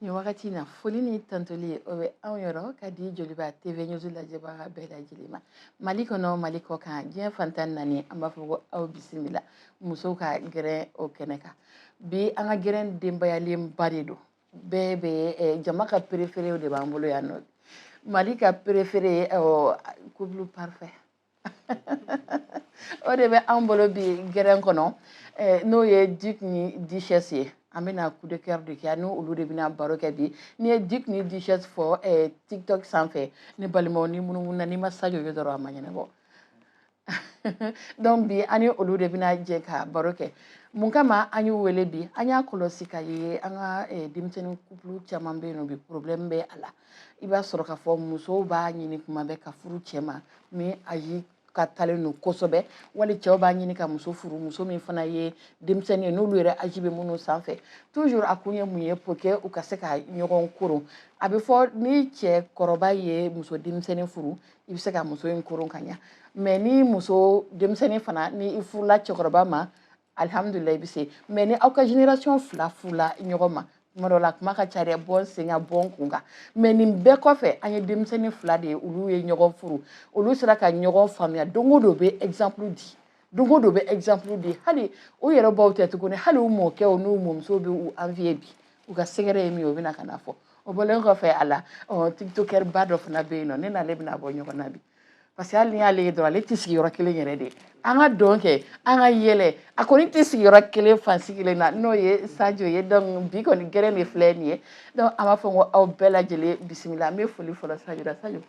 nin wagati in na foli ni tandoli ye o bɛ anw yɔrɔ ka di joliba tv news lajɛbaga bɛɛ lajɛlen ma mali kɔnɔ mali kɔkan diɲɛ fan tan naani an b'a fɔ ko aw bisimila musow ka gɛrɛn o kɛnɛ kan bi an ka gɛrɛn denbayalenba de don bɛɛ bɛ eh, jama ka préféréw de b'an bolo yan nɔ mali ka préféré ye eh, oh, couple parfait o de bɛ anw bolo bi gɛrɛn kɔnɔ eh, n'o ye duc ni duchesse ye an bɛna coup de cœur de kɛ ani olu de bɛna baro kɛ bi n'i ye duc ni duchesse fɔ eh, tiktok sanfɛ ne balimaw n'i munumununa n'i ma sajo ye dɔrɔn a ma ɲɛnabɔ donc bi an ni olu de bɛna jɛ ka baro kɛ mun kama an y'u wele bi an y'a kɔlɔsi k'a ye an ka eh, denmisɛnnin couple caman bɛ yen nɔ bi problème bɛ a la i b'a sɔrɔ k'a fɔ musow b'a ɲini kuma bɛɛ ka furu cɛ ma min âge kɔrɔtalen don kosɛbɛ wali cɛw b'a ɲini ka muso furu muso min fana ye denmisɛnnin ye n'olu yɛrɛ âge bɛ minnu sanfɛ toujours a kun ye mun ye pour que u ka se ka ɲɔgɔn koron a bɛ fɔ ni cɛ kɔrɔba ye muso denmisɛnnin furu i bɛ se ka muso in koron ka ɲa mais ni muso denmisɛnnin fana ni i furula cɛkɔrɔba ma alihamudulila i bɛ se mais ni aw ka génération fila furula ɲɔgɔn ma tuma dɔ la kuma ka ca dɛ bɔ n sen kan bɔ n kun kan mais nin bɛɛ kɔfɛ an ye denmisɛnnin fila de ye olu ye ɲɔgɔn furu olu sera ka ɲɔgɔn faamuya don o don bɛ exemple di don o don bɛ exemple di hali u yɛrɛ baw tɛ tuguni hali u mɔkɛw n'u mɔmusow bɛ u envier bi u ka secret ye min ye u bɛna ka n'a fɔ o bɔlen kɔfɛ a la tiktokeurba dɔ fana bɛ yen nɔ ne n'ale bɛna bɔ ɲɔgɔn na bi parce que hali n'i y'ale ye dɔrɔn ale tɛ sigi yɔrɔ kelen yɛrɛ dɛ an ka dɔn kɛ an ka yɛlɛ a kɔni tɛ sigi yɔrɔ kelen fan si kelen na n'o ye sajo ye donc bi kɔni gɛrɛn de filɛ nin ye donc an b'a fɔ ko aw bɛɛ lajɛlen bisimila an bɛ foli fɔlɔ sajo la sajo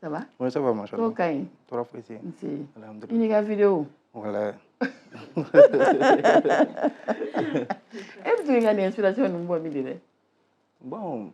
ça va oui ça va machallah kow ka ɲi tɔɔrɔ foyi tɛ yen alhamdulilayi i n'i ka videow la e bɛ to ka nin inspiration ninnu bɔ min de dɛ bon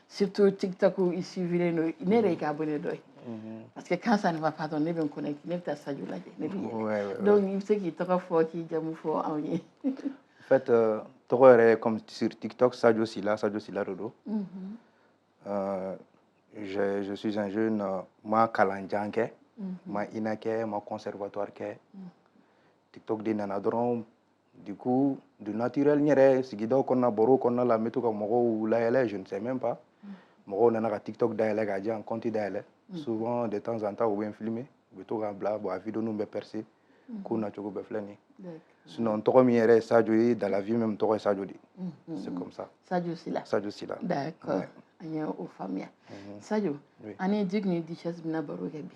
surtout tiktok i suivilen don ne yɛrɛ y'i ka abonné dɔ ye Mm-hmm. parce que quand ça ne va pas donc ne bɛ n connecter ne bɛ taa sajo lajɛ ne bɛ yɛlɛ donc i bɛ se k'i tɔgɔ fɔ k'i jamu fɔ anw ye. en fait euh, n tɔgɔ yɛrɛ comme sur TikTok Sadio Sila Sadio Sila de don. Mm-hmm. Euh, je je suis un jeune euh, n ma kalan jan kɛ. Mm-hmm. n ma INA kɛ n ma conservatoire kɛ. TikTok de nana dɔrɔn. du coup du naturel n yɛrɛ sigidaw kɔnɔna baro kɔnɔna la n bɛ to ka mɔgɔw layɛlɛ je ne sais même pas mɔgɔw nana ka tiktok dayɛlɛ k'a diyan compte dayɛlɛ mm. souvent de temps en temps u bɛ n filmer u bɛ to k'a bila bon a video ninnu bɛ percer mm. ko nacogo bɛɛ filɛ nin ye sinon n tɔgɔ min yɛrɛ ye sajo ye dans la vie même n tɔgɔ ye sajo de ye c'est comme ça sajo sila sajo sila d'accord an ye o faamuya sajo ani duc ni duchesse bɛna baro kɛ bi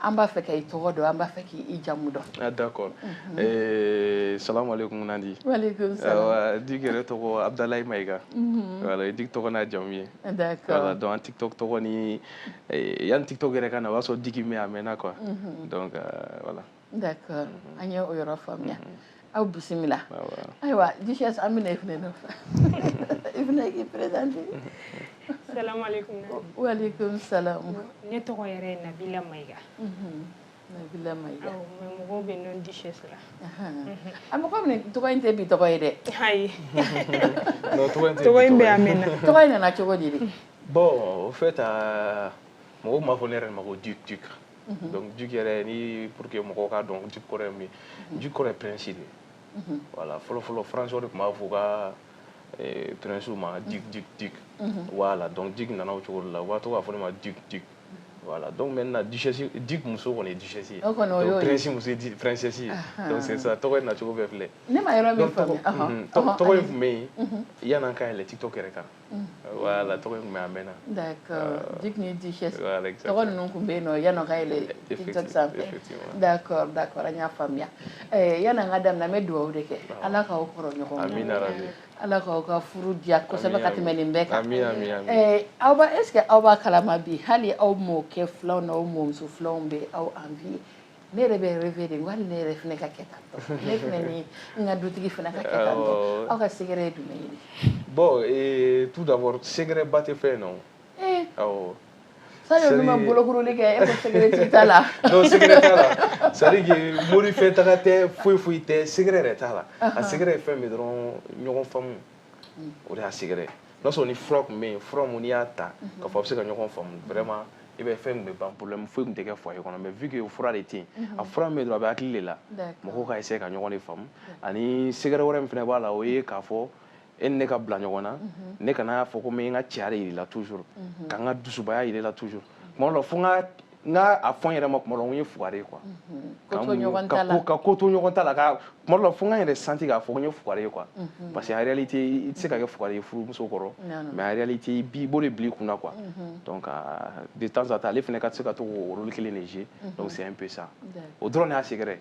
an b'a fɛ ka i tɔgɔ dɔn an b'a fɛ k'i jamu dɔn ah, d'accord mhm. eh, salamu aleykum nandi Duc yɛrɛ tɔgɔ abdulayi mayiga mhm. voilà o ye Duc tɔgɔ n'a jamu ye voilà donc an tiktok tɔgɔ ni eh, yanni tiktok yɛrɛ ka na o y'a sɔrɔ Duc bɛ yen a mɛnna quoi mhm. donc euh, voilà d'accord an ye o yɔrɔ faamuya aw bisimila ayiwa duchesse an bɛna i fana nɔfɛ i fana k'i présenter salamaleykum waleykum salam ne tɔgɔ yɛrɛ ye nabila mayiga nabila mayiga mais mɔgɔw bɛ n dɔn duchesse la a mɔgɔ i fana tɔgɔ in tɛ bi tɔgɔ ye dɛ ayi tɔgɔ in bɛ a mɛnna tɔgɔ in nana cogo di Duc bon au fait mɔgɔw tun b'a fɔ ne yɛrɛ ma ko duc duc mhm. donc Duc yɛrɛ ni pour que mɔgɔw k'a dɔn Duc kɔrɔ ye min mhm. Duc kɔrɔ ye prince de mhm. voilà fɔlɔ fɔlɔ françaisw de tun b'a fɔ u ka eh, princew ma Duc Duc Duc voilà donc Duc nana o cogo de la u b'a to k'a fɔ ne ma Duc Duc Voilà, donc maintenant, duchesse, Duc muso kɔni ye duchesse ye. O kɔni o y'o ye. Donc prince muso ye princesse ye. Donc c'est ça, tɔgɔ in nacogo bɛɛ filɛ. Ne ma yɔrɔ min faamuya. Tɔgɔ in tun bɛ yen yanni an ka yɛlɛ TikTok yɛrɛ kan. Mm. voilà tɔgɔ in tun bɛ a mɛnna. d'accord Duc ni Duchesse. voilà exactement tɔgɔ ninnu tun bɛ yen o yanni an ka yɛlɛ TikTok sanfɛ. d'accord d'accord an y'a faamuya eh, yanni an ka daminɛ an bɛ dugawu de kɛ ala k'aw kɔrɔ ɲɔgɔn na. amina rabi. ala k'aw ka furu diya kosɛbɛ ka tɛmɛ nin bɛɛ kan. amina amina amina. Eh, aw b'a est-ce que aw b'a kalama bi hali aw mɔkɛ filanw n'aw mɔmuso filanw bɛ aw envier. ne yɛrɛ bɛ rêver de hali ne yɛrɛ fana ka kɛ tan tɔ ne fana ni n ka dutigi fana ka kɛ tan tɔ aw ka secret ye jumɛn ye bon eh, tout d'abord secret ba tɛ fɛn in na o eh. awɔ sani olu ma bolokuruli kɛ e ko secret t'i ta la non secret t'a la c'est à dire que mori fɛ taga tɛ foyi foyi tɛ secret yɛrɛ t'a la a secret ye fɛn min dɔrɔn ɲɔgɔn faamu o de y'a secret ye n'a sɔrɔ ni fura tun bɛ yen fura min n'i y'a ta k'a fɔ a bɛ se ka ɲɔgɔn faamu vraiment i bɛ fɛn kɛ ban problème foyi tun tɛ kɛ foyer kɔnɔ mais vu que fura de tɛ yen a fura min bɛ dɔrɔn a bɛ hakili de la mɔgɔw ka essayer ka ɲɔgɔn de faamu ani secret wɛrɛ min fana b'a la o ye k'a fɔ e ni ne ka bila ɲɔgɔn na ne kana fɔ ko n bɛ n ka cɛya de jira i la toujours ka n ka dusubaya jira i la toujours tuma dɔ la fo n ka n ka a fɔ n yɛrɛ ma kuma dɔ n ye fugari ye quoi ka ko to ɲɔgɔn ta la ka ko to ɲɔgɔn ta la ka kuma dɔ la fo n ka n yɛrɛ sentir k'a fɔ n ye fugari ye quoi parce que en réalité i tɛ se ka kɛ fugari ye furumuso kɔrɔ mais en réalité i b'i bolo bila i kun na quoi donc de temps à temps ale fana ka se ka to k'o rôle kelen de jouer donc c'est un peu ça o dɔrɔn de y'a secret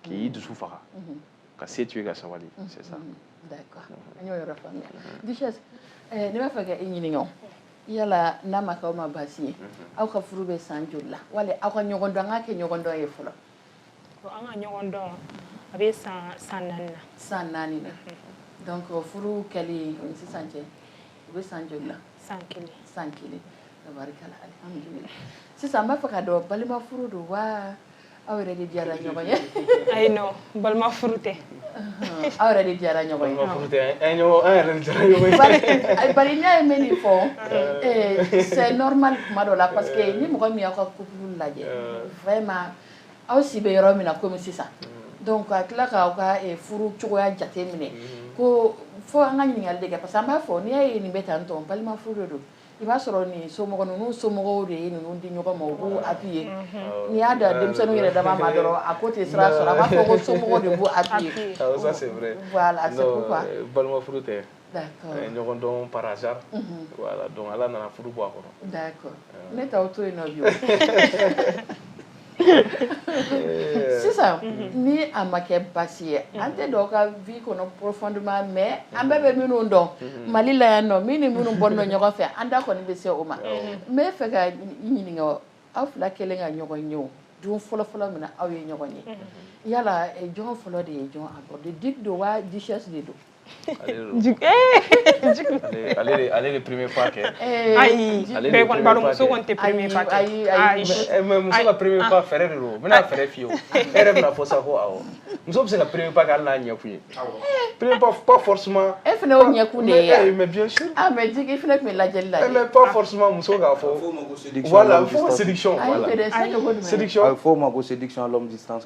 k'i dusu faga ka se to ye ka sabali mm-hmm. c'est ça d'accord mm-hmm. an y'o yɔrɔ faamuya mm-hmm. duchesse eh, ne b'a fɛ ka i ɲininka o yala n'a ma k'aw ma baasi ye aw ka furu bɛ san joli la wali aw ka ɲɔgɔn dɔn an k'a kɛ ɲɔgɔn dɔn ye fɔlɔ an ka ɲɔgɔn dɔn a bɛ san san naani na san naani na donc furu kɛli ni sisan cɛ o bɛ san joli la san kelen san kelen tabarikala alihamudulila sisan n b'a fɛ k'a dɔn balima furu don wa aw yɛrɛ de diyara ɲɔgɔn ye ayi non balima furu tɛ aw yɛrɛ de diyara ɲɔgɔn ye balima furu tɛ an ɲɔgɔn an yɛrɛ de diyara ɲɔgɔn ye bari eh, bari n'a ye min fɔ eh, c'est normal kuma dɔ la parce que ni mɔgɔ min y'aw ka couple lajɛ vraiment aw si bɛ yɔrɔ min na komi sisan donc ka tila k'aw ka eh, furu cogoya jate minɛ ko fo an ka ɲininkali de kɛ parce que an b'a fɔ n'i y'a ye nin bɛ tan tɔ balima furu de don i b'a sɔrɔ nin somɔgɔ ninnu somɔgɔ de ye ninnu di ɲɔgɔn ma u b'u appuyer n'i y'a da denmisɛnninw yɛrɛ dama ma dɔrɔn a ko tɛ sira sɔrɔ a b'a fɔ ko somɔgɔ de b'u appuyer ça c'est vrai voilà c'est pourquoi euh, balima furu tɛ d'accord euh, ɲɔgɔn dɔn par hasard mhm. voilà donc ala nana furu bɔ a kɔnɔ d'accord euh. ne t'aw to yen nɔ bi Eh. sisan mhm. ni a ma kɛ baasi ye mhm. an tɛ don aw ka vie kɔnɔ profondément mais an bɛɛ bɛ minnu dɔn mhm. mali la yan nɔ min ni minnu bɔ nɔ ɲɔgɔn fɛ an da kɔni bɛ se o ma n b'a fɛ ka ɲininka aw fila kɛlen ka ɲɔgɔn ye o don fɔlɔfɔlɔ min na aw ye ɲɔgɔn ye yala eh, jɔn fɔlɔ de ye jɔn aborder duc don wa duchesse de don ale de premier pas kɛ ayi bɛɛ kɔni b'a dɔn muso kɔni tɛ premier pas kɛ ayi ayi mais muso ka premier pas fɛɛrɛ de don n bɛna fɛɛrɛ f'i ye o e yɛrɛ bɛn'a fɔ sa ko awɔ muso bɛ se ka premier pas kɛ hali n'a ɲɛkun ye premier pas pas forcément e fana y'o ɲɛkun de ye yan mais bien sûr ah mais duc i fana tun bɛ lajɛli la dɛ mais pas forcément muso k'a fɔ voilà a bɛ fɔ o ma ko séduction voilà séduction a bɛ fɔ o ma ko séduction à longue distance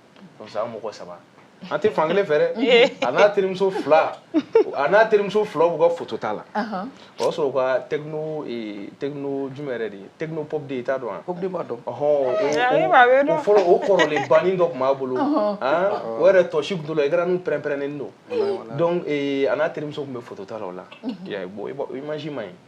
donc sa an mɔgɔ saba an tɛ fankelen fɛ dɛ a n'a terimuso fila a n'a terimuso fila b'u ka foto ta la o y'a sɔrɔ u ka tecno tecno jumɛn yɛrɛ de ye tecno pop de ye i t'a dɔn wa pop de b'a dɔn ɔhɔn o fɔlɔ o kɔrɔlenba nin dɔ tun b'a bolo o yɛrɛ tɔsi tun t'o la écran nin pɛrɛn-pɛrɛnnen don donc a n'a terimuso tun bɛ foto ta la o la i m'a ye bon image man ɲi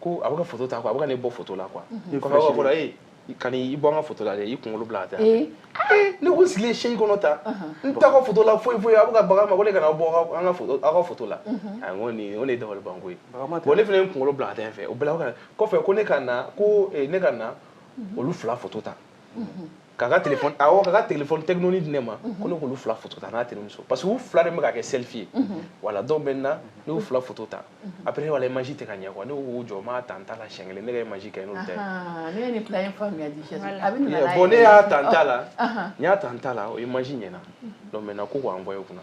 ko a bɛ ka foto ta quoi a bɛ ka ne bɔ foto la quoi mhm. kɔfɛ aw ka fɔ la ee kana i bɔ an ka foto la dɛ i kunkolo bila ka taa ee ne ko n sigilen chaise kɔnɔ tan n t'a ka foto la foyi foyi a bɛ ka baga n ma ko ne kana bɔ an ka foto aw ka foto la mhm. a n ko nin o de ye dabalibanko ye bon ne fana ye n kunkolo bila ka taa n fɛ o bɛɛ la kɔfɛ ko ne ka na ko ne ka na mhm. olu fila foto ta k'a ka telefɔni awɔ k'a ka telefɔni tɛkinoni di ne ma ko ne k'olu fila foto ta n'a terimuso parce que u fila de bɛ ka kɛ selfie ye voilà donc maintenant ne y'u fila foto ta après ne voilà image tɛ ka ɲɛ quoi ne ko u k'u jɔ n b'a ta n ta la siɲɛ kelen ne ka image ka ɲi n'olu ta ye ne ye nin plan in faamuya di bon ne y'a ta n ta la n y'a ta n ta la o image ɲɛna donc maintenant ko k'o envoyer u kunna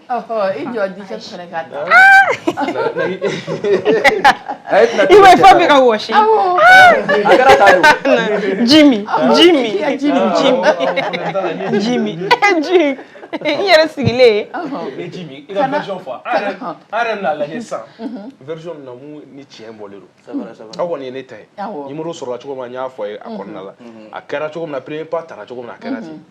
I jɔ di cɛ sɛnɛ ka da i ma fa bɛ ka wa jimi jimi jimi ji i yɛrɛ sigilen version ni tiɲɛ bɔlen aw kɔni ye ne ta ye numéro sɔrɔla cogo min na n y'a fɔ a ye a kɔnɔna la a kɛra cogo min na premier pas tara cogo min a kɛra ten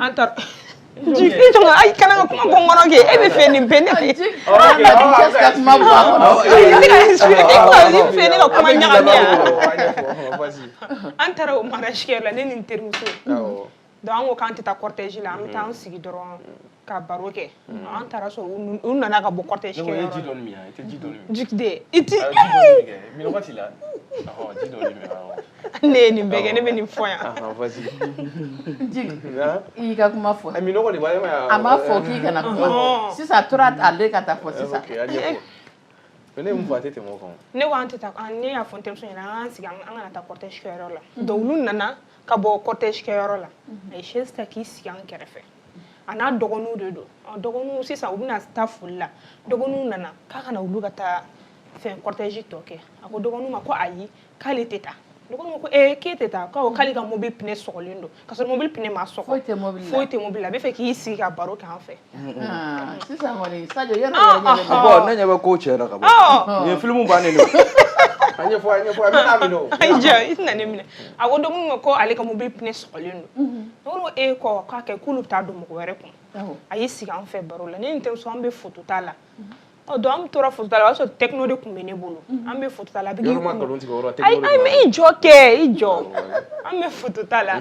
an taara ayi kana ka kuma bɔ kɔnɔ kɛ e bɛ fɛ nin bɛɛ ne fɛ ka kuma bɔ a kɔnɔ ne ka expliquer e ka nin fɛ ne ka kuma ɲagami yan an taara o mariage kɛyɔrɔ la ne ni n terimuso donc an ko k'an tɛ taa cortège la an bɛ taa an sigi dɔrɔn ka baro kɛ mm. an taara sɔrɔ olu nana ka bɔ cortège kɛ ji dɔɔni min i tɛ ji dɔɔni min jikide i tɛ min wagati la ji dɔɔni min ne ye nin bɛɛ kɛ ne bɛ nin fɔ yan i y'i ka kuma fɔ minnɔgɔ de b'a ye a ma fɔ k'i kana kuma sisan a tora ale ka taa fɔ sisan ne mun fɔ a tɛ tɛmɛ o kan ne ko an tɛ taa ne y'a fɔ n terimuso ɲɛna an k'an sigi an kana taa cortège kɛyɔrɔ la donc olu nana ka bɔ cortège kɛyɔrɔ la a ye chaise ta k'i sigi an kɛrɛfɛ a n'a dɔgɔninw de don dɔgɔninw sisan u bɛna taa foli la dɔgɔninw nana k'a ka na olu ka taa fɛn cortège tɔ kɛ a ko dɔgɔninw ma ko ayi k'ale tɛ taa dɔgɔninw ko ee k'e tɛ taa k'awɔ k'ale ka mobili pinɛ sɔgɔlen don ka sɔrɔ mobili pinɛ ma sɔgɔ foyi tɛ mobili la foyi tɛ mobili la a bɛ fɛ k'i sigi ka baro k'an fɛ ah, sisan kɔni sajo yɛrɛ ah, ah, bon ne ɲɛ bɛ ko cɛ la ka bɔ nin ye filimu bannen don a ɲɛfɔ a ɲɛfɔ a bɛ n'a minɛ o a y'i ja i tɛna ne minɛ a ko dɔgɔninw ma ko ale ka mobili pinɛ sɔgɔlen don mhm. Olu ye kɔ k'a kɛ k'olu bɛ taa don mɔgɔ wɛrɛ kun a y'i sigi an fɛ baro la ne ni n terimuso an bɛ photo ta la donc an tora photo ta la o y'a sɔrɔ Tecno de tun bɛ ne bolo an bɛ photo ta la i jɔ kɛ i jɔ an bɛ photo ta la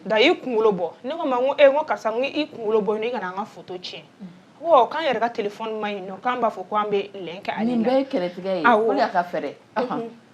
da i kunkolo bɔ ne ko ma ko e ko karisa i kunkolo bɔ n' kana an ka photo tiɲɛ k'an yɛrɛ ka téléphone man ɲi k'an b'a fɔ ko an bɛ kɛ kɛlɛ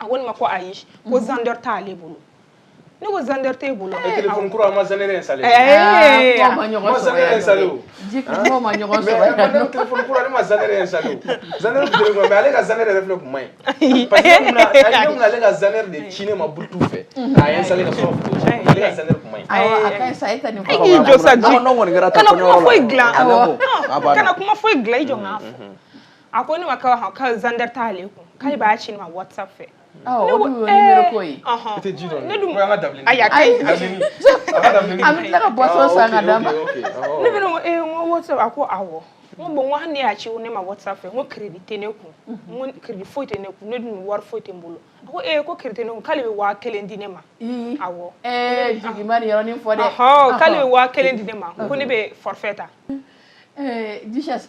a ko ne ma ko ayi ko mhm. Xender t'ale bolo ne ko Xender t'e bolo e téléphone kura ma Xender installer eh ma ɲɔgɔn sɔrɔ Xender installer o ma ɲɔgɔn sɔrɔ mais ne téléphone kura ne ma Xender installer o Xender bere ko mais ale ka Xender yɛrɛ filɛ kun man ɲi parce que mun na ne mun ale ka Xender de ci ne ma Bluetooth fɛ k'a installer ka sɔrɔ ale ka Xender kun man ɲi a ka sa e ta ni ko k'i jɔ sa ji kana kuma foyi dilan kana kuma foyi dilan i jɔ n k'a fɔ a ko ne ma k'aw ka Xender t'ale kun k'ale b'a ci ne ma whatsapp fɛ o dun ye nimero ko ye i tɛ ji dɔn ne dun an ka dabili ayi a ka ɲi an bɛ tila ka boisson san ka d'a ma ne fana ko ee n ko whatsapp a ko awɔ n ko bon n ko hali n'e y'a ci ne ma whatsapp fɛ n ko crédit tɛ ne kun n ko crédit foyi tɛ ne kun ne dun wari foyi tɛ n bolo a ko ee ko crédit tɛ ne kun k'ale bɛ waa kelen di ne ma awɔ ɛɛ Jigi ma nin yɔrɔ nin fɔ dɛ k'ale bɛ waa kelen di ne ma ko ne bɛ forfait ta ɛɛ duchesse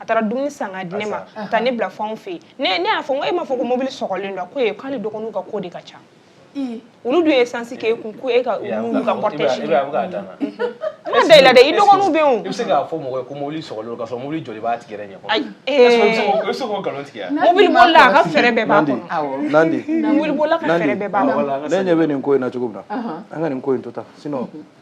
a taara dumuni san ka di ne ma ka taa ne bila fɛnw fɛ yen ne y'a fɔ n ko e m'a fɔ ko mobili sɔgɔlen don ko ayi k'ale dɔgɔninw ka ko de ka ca olu dun ye sansi k'e kun ko e ka n'u ka cortège n ma da i la dɛ i dɔgɔninw bɛ yen o i bɛ se k'a fɔ mɔgɔ ye ko mobili sɔgɔlen don k'a sɔrɔ mobili jɔlen b'a tigi yɛrɛ ɲɛ kɔrɔ ayi i bɛ se k'o nkalon tigɛ mobili bolila a ka fɛɛrɛ bɛɛ b'a kɔnɔ nandi mobili bolila ka fɛɛrɛ bɛɛ b'a kɔnɔ ne ɲɛ bɛ nin ko in na cogo min na an ka nin ko in to tan sinon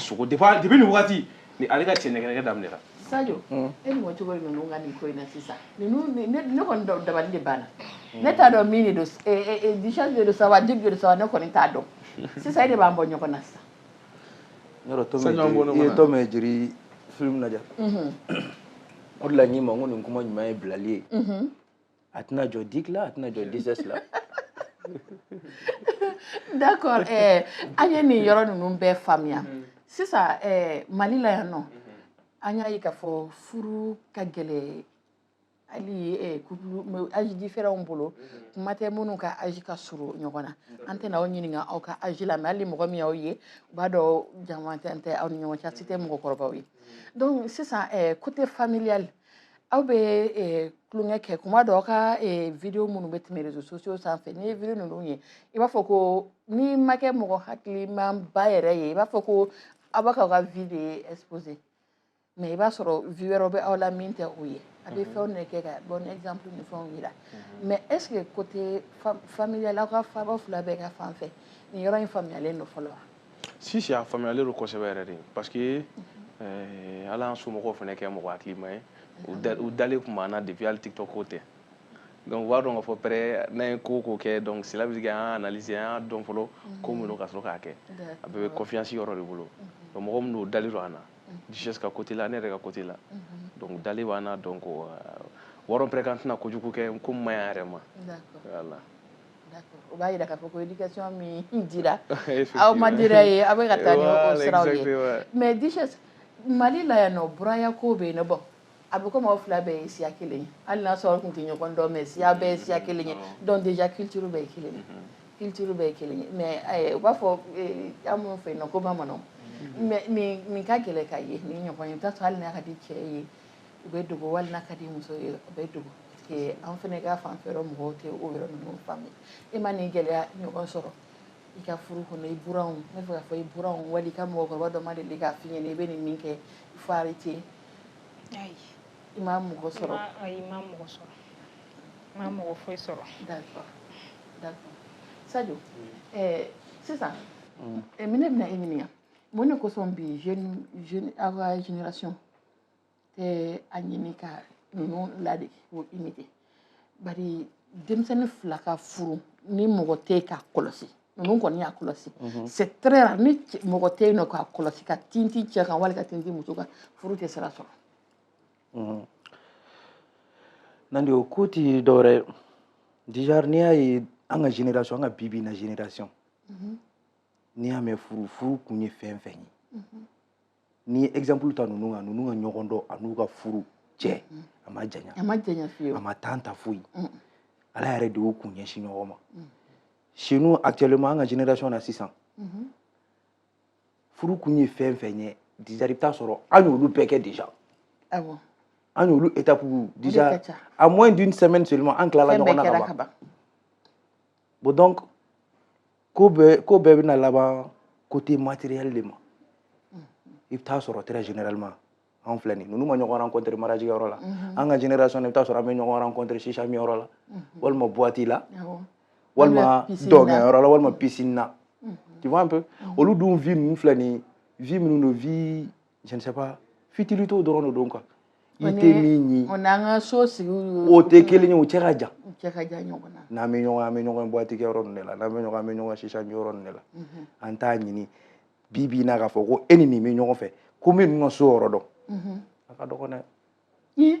sogo de b'a depuis nin waati ni ale ka cɛ nɛgɛnɛgɛ daminɛra Sadio e mɔ cogo di ninnu ka nin ko in na sisan ninnu ne ne kɔni dɔ- dabali de banna ne t'a dɔn min de don s- eh, eh, eh, Duchesse de don sa wa Jigi de don sa wa ne kɔni t'a dɔn sisan e de b'an bɔ ɲɔgɔn na sisan yɔrɔ to Sani an bɔ ɲɔgɔn i ye na. Tom et Jerry film lajɛ o de la n k'i ma n ko nin kuma ɲuman ye bilali ye a tɛna jɔ Jigi la a tɛna jɔ Duchesse la d'accord eh, an ye nin yɔrɔ ninnu bɛɛ faamuya mm-hmm. sisan eh, mali la yan nɔ mm-hmm. an y'a ye k'a fɔ furu ka gɛlɛn hali eh, couple âge différents bolo mm-hmm. kuma tɛ minnu ka âge ka surun ɲɔgɔn na an tɛna aw ɲininka aw ka âge la mais hali mɔgɔ min y'aw ye u b'a dɔn janfantanya tɛ aw ni ɲɔgɔn cɛ aw si tɛ mɔgɔkɔrɔbaw ye donc sisan eh, côté familial mm -hmm. aw bɛ tulonkɛ kɛ kuma dɔ aw ka video minnu bɛ tɛmɛ réseaux sociaux sanfɛ n'i ye video ninnu ye i b'a fɔ ko n'i ma kɛ mɔgɔ hakilimanba yɛrɛ ye i b'a fɔ ko aw b'a k'aw ka vie de ye exposé mais i b'a sɔrɔ vie wɛrɛw bɛ aw la min tɛ o ye aw bɛ mhm. fɛnw de kɛ ka bon exemple ni fɛnw yira mhm. mais est ce que côté familial aw ka faaba fila bɛɛ ka fan fɛ nin yɔrɔ in faamuyalen don fɔlɔ wa si si a faamuyalen don kosɛbɛ yɛrɛ de parce que eh, ala y'an somɔgɔw fana kɛ mɔgɔ hakilima ye u dalen tun b'an na depuis hali tiktok ko tɛ donc u b'a dɔn k'a fɔ vraiment n'an ye ko o ko kɛ donc sila bɛ se k'an y'a analyse an y'a dɔn fɔlɔ ko min don ka sɔrɔ k'a kɛ a bɛɛ bɛ confiance yɔrɔ de bolo donc mɔgɔ min don u dalen don an na duchesse ka côté la ne yɛrɛ ka côté la donc u dalen b'an na donc u b'a dɔn vraiment k'an tɛna kojugu kɛ ko min ma ɲi an yɛrɛ ma voilà o b'a jira k'a fɔ ko éducation min dira aw ma dira ye aw bɛ ka taa ni o siraw ye mais Duchesse Mali la yan nɔ buranya ko bɛ yen nɔ bon a bɛ komi aw fila bɛɛ ye siya kelen ye hali n'a sɔrɔ aw tun tɛ ɲɔgɔn dɔn mais siya bɛɛ ye siya kelen ye donc déjà culture bɛɛ ye kelen ye culture bɛɛ ye kelen ye mais eh, u b'a fɔ eh, an minnu fɛ yen nɔ ko bamananw mais nin nin ka gɛlɛn ka ye nin ɲɔgɔn ye i bɛ taa sɔrɔ hali n'a ka di cɛ ye u bɛ dogo wali n'a ka di muso ye u bɛ dogo an fana ka fan fɛ mɔgɔw tɛ o yɔrɔ ninnu faamu e ma nin gɛlɛya ɲɔgɔn sɔrɔ i ka furu kɔnɔ i buranw ne fɛ k'a fɔ i buranw wali i ka mɔgɔkɔrɔba dɔ ma deli k'a f'i ɲɛna i bɛ nin min kɛ fari tɛ ayi i ma mɔgɔ sɔrɔ ayi i ma mɔgɔ sɔrɔ i ma mɔgɔ foyi sɔrɔ d'accord d'accord Sadio ɛɛ sisan min ne bɛna e ɲininka mun de kosɔn bi jeune jeune aw ka génération tɛ a ɲini ka ninnu ladege k'u imiter bari denmisɛnnin fila ka furu ni mɔgɔ tɛ k'a kɔlɔsi ninnu kɔni y'a kɔlɔsi mhm. c'est très rare ni mɔgɔ tɛ yen nɔ k'a kɔlɔsi ka tintin cɛ kan wali ka tintin muso kan furu tɛ sira sɔrɔ mhm. Nandi o ko tɛ dɔwɛrɛ déjà n'i y'a ye an ka génération an ka bi bi na génération mhm. n'i y'a mɛn furu furu kun ye fɛn fɛn ye n'i ye exemple ta ninnu kan ninnu ka ɲɔgɔn dɔn a n'u ka furu cɛ mm. a ma janya a ma janya fiyewu a ma temps ta foyi mm. ala yɛrɛ de y'u kun ɲɛsin ɲɔgɔn ma mm. chez nous actuellement an ka génération na sisan mm-hmm. furu kun ye fɛn fɛn ye déjà i bɛ taa sɔrɔ an y'olu bɛɛ kɛ déjà awɔ an y'olu étape déjà à moins d'une semaine seulement an tilala ɲɔgɔn na ka ban bon donc ko bɛɛ ko bɛɛ bɛna laban côté matériel de ma i bɛ taa sɔrɔ très généralement anw filɛ nin ninnu ma ɲɔgɔn rencontre mariage yɔrɔ la mhm. an ka génération na i bɛ taa sɔrɔ an bɛ ɲɔgɔn rencontre shisha min yɔrɔ la mhm. walima boîte la walima dɔnkɛ yɔrɔ la walima piscine na mhm. tu vois un peu olu dun vie ninnu filɛ nin vie minnu don vie je ne sais pas futilités dɔrɔn de don quoi i tɛ min ye o n'an ka so sigi o tɛ kelen ye o cɛ ka jan o cɛ ka jan ɲɔgɔn na n'an bɛ ɲɔgɔn an bɛ ɲɔgɔn boîte kɛ yɔrɔ ninnu de la n'an bɛ ɲɔgɔn an bɛ ɲɔgɔn shisha min yɔrɔ ninnu de la an t'a ɲini bi bi in na k'a fɔ ko e ni nin bɛ ɲɔgɔn fɛ ko n bɛ nin ka so yɔrɔ dɔn a ka dɔgɔn dɛ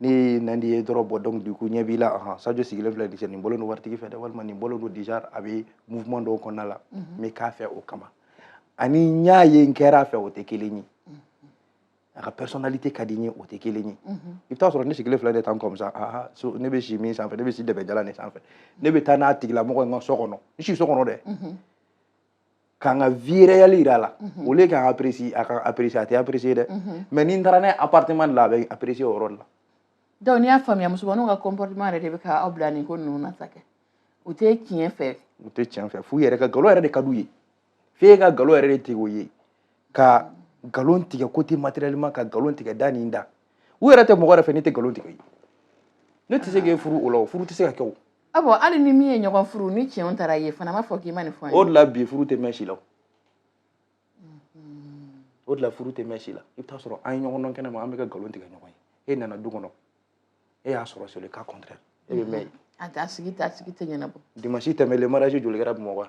ne ye Nandi ye dɔrɔn bon donc du coup ɲɛ b'i la ahan Sadio sigilen filɛ dise nin bolo don waritigi fɛ dɛ walima nin bolo don déjà a bɛ mouvement dɔw kɔnɔna la n mhm. bɛ k'a fɛ o kama ani n y'a ye n kɛra a fɛ o tɛ kelen ye mhm. a ka personnalité ka di n ye o tɛ kelen ye mhm. i bɛ taa sɔrɔ ne sigilen filɛ de tan comme ça aha so ne bɛ si min sanfɛ ne bɛ si dɛbɛjalan de sanfɛ ne bɛ taa n'a tigilamɔgɔ ye n ka so kɔnɔ n si so kɔnɔ dɛ ka n ka vie réelle jira a la mhm. au lieu k'an apprécier a ka apprécier a tɛ apprécier dɛ mhm. mais ni n taara n'a ye appartement de la a bɛ apprécier o yɔrɔ de la donc n'i y'a faamuya musomaninw ka comportement yɛrɛ de bɛ ka aw bila nin ko ninnu na sa kɛ u tɛ tiɲɛ fɛ u tɛ tiɲɛ fɛ f'u yɛrɛ ka nkalon yɛrɛ de ka d'u ye f'e ka nkalon yɛrɛ de tigɛ u ye ka nkalon tigɛ côté matériellement ka nkalon tigɛ da nin da u yɛrɛ tɛ mɔgɔ yɛrɛ fɛ ne tɛ nkalon tigɛ ye ne tɛ se k'e furu o la o furu tɛ se ka kɛ o a bɔ hali ni min ye ɲɔgɔn furu ni tiɲɛw taara ye fana b'a fɔ k'i ma nin fɔ o de la bi furu tɛ mɛn si la o de la furu tɛ mɛn si la i bɛ taa sɔrɔ an ye ɲɔgɔn dɔn kɛnɛ ma an bɛ ka nkalon tigɛ ɲɔgɔn ye e nana du kɔnɔ e y'a sɔrɔ c'est le cas contraire e bɛ mɛn yen a t'a sigi t'a sigi tɛ ɲɛnabɔ dimansi tɛmɛlen mariage joli kɛra bamakɔ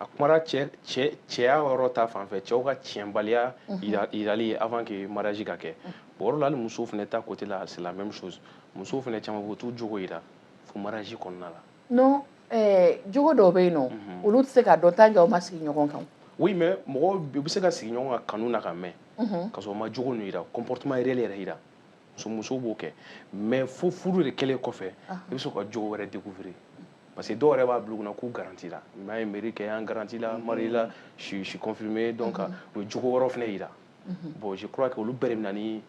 a kumara cɛ cɛ cɛya yɔrɔ ta fanfɛ cɛw ka tiɲɛbaliya yirali ye avant que mariage ka kɛ bon yɔrɔ la hali musow fana ta côté la c'est la même chose musow fana caman bɛ t'u jogo yira fo mariage kɔnɔna la non eh, jogo dɔw bɛ yen nɔ olu tɛ se ka dɔn tant que aw ma sigi ɲɔgɔn kan oui mais mɔgɔw u bɛ se ka sigi ɲɔgɔn kan kanu na ka mɛn ka sɔrɔ u ma jogo ninnu yira comportement réel yɛrɛ yira musomuso b'o kɛ mais fo furu de kɛlen kɔfɛ i bɛ sɔrɔ ka jogo wɛrɛ découvrir parce que dɔw yɛrɛ b'a bila u kunna k'u garantila n'a ye mairie kɛ an garantila mairie la je suis confirmé donc mhm. u ye jogo wɛrɛw fana yira mhm. bon je crois que olu bɛɛ de bɛ na ni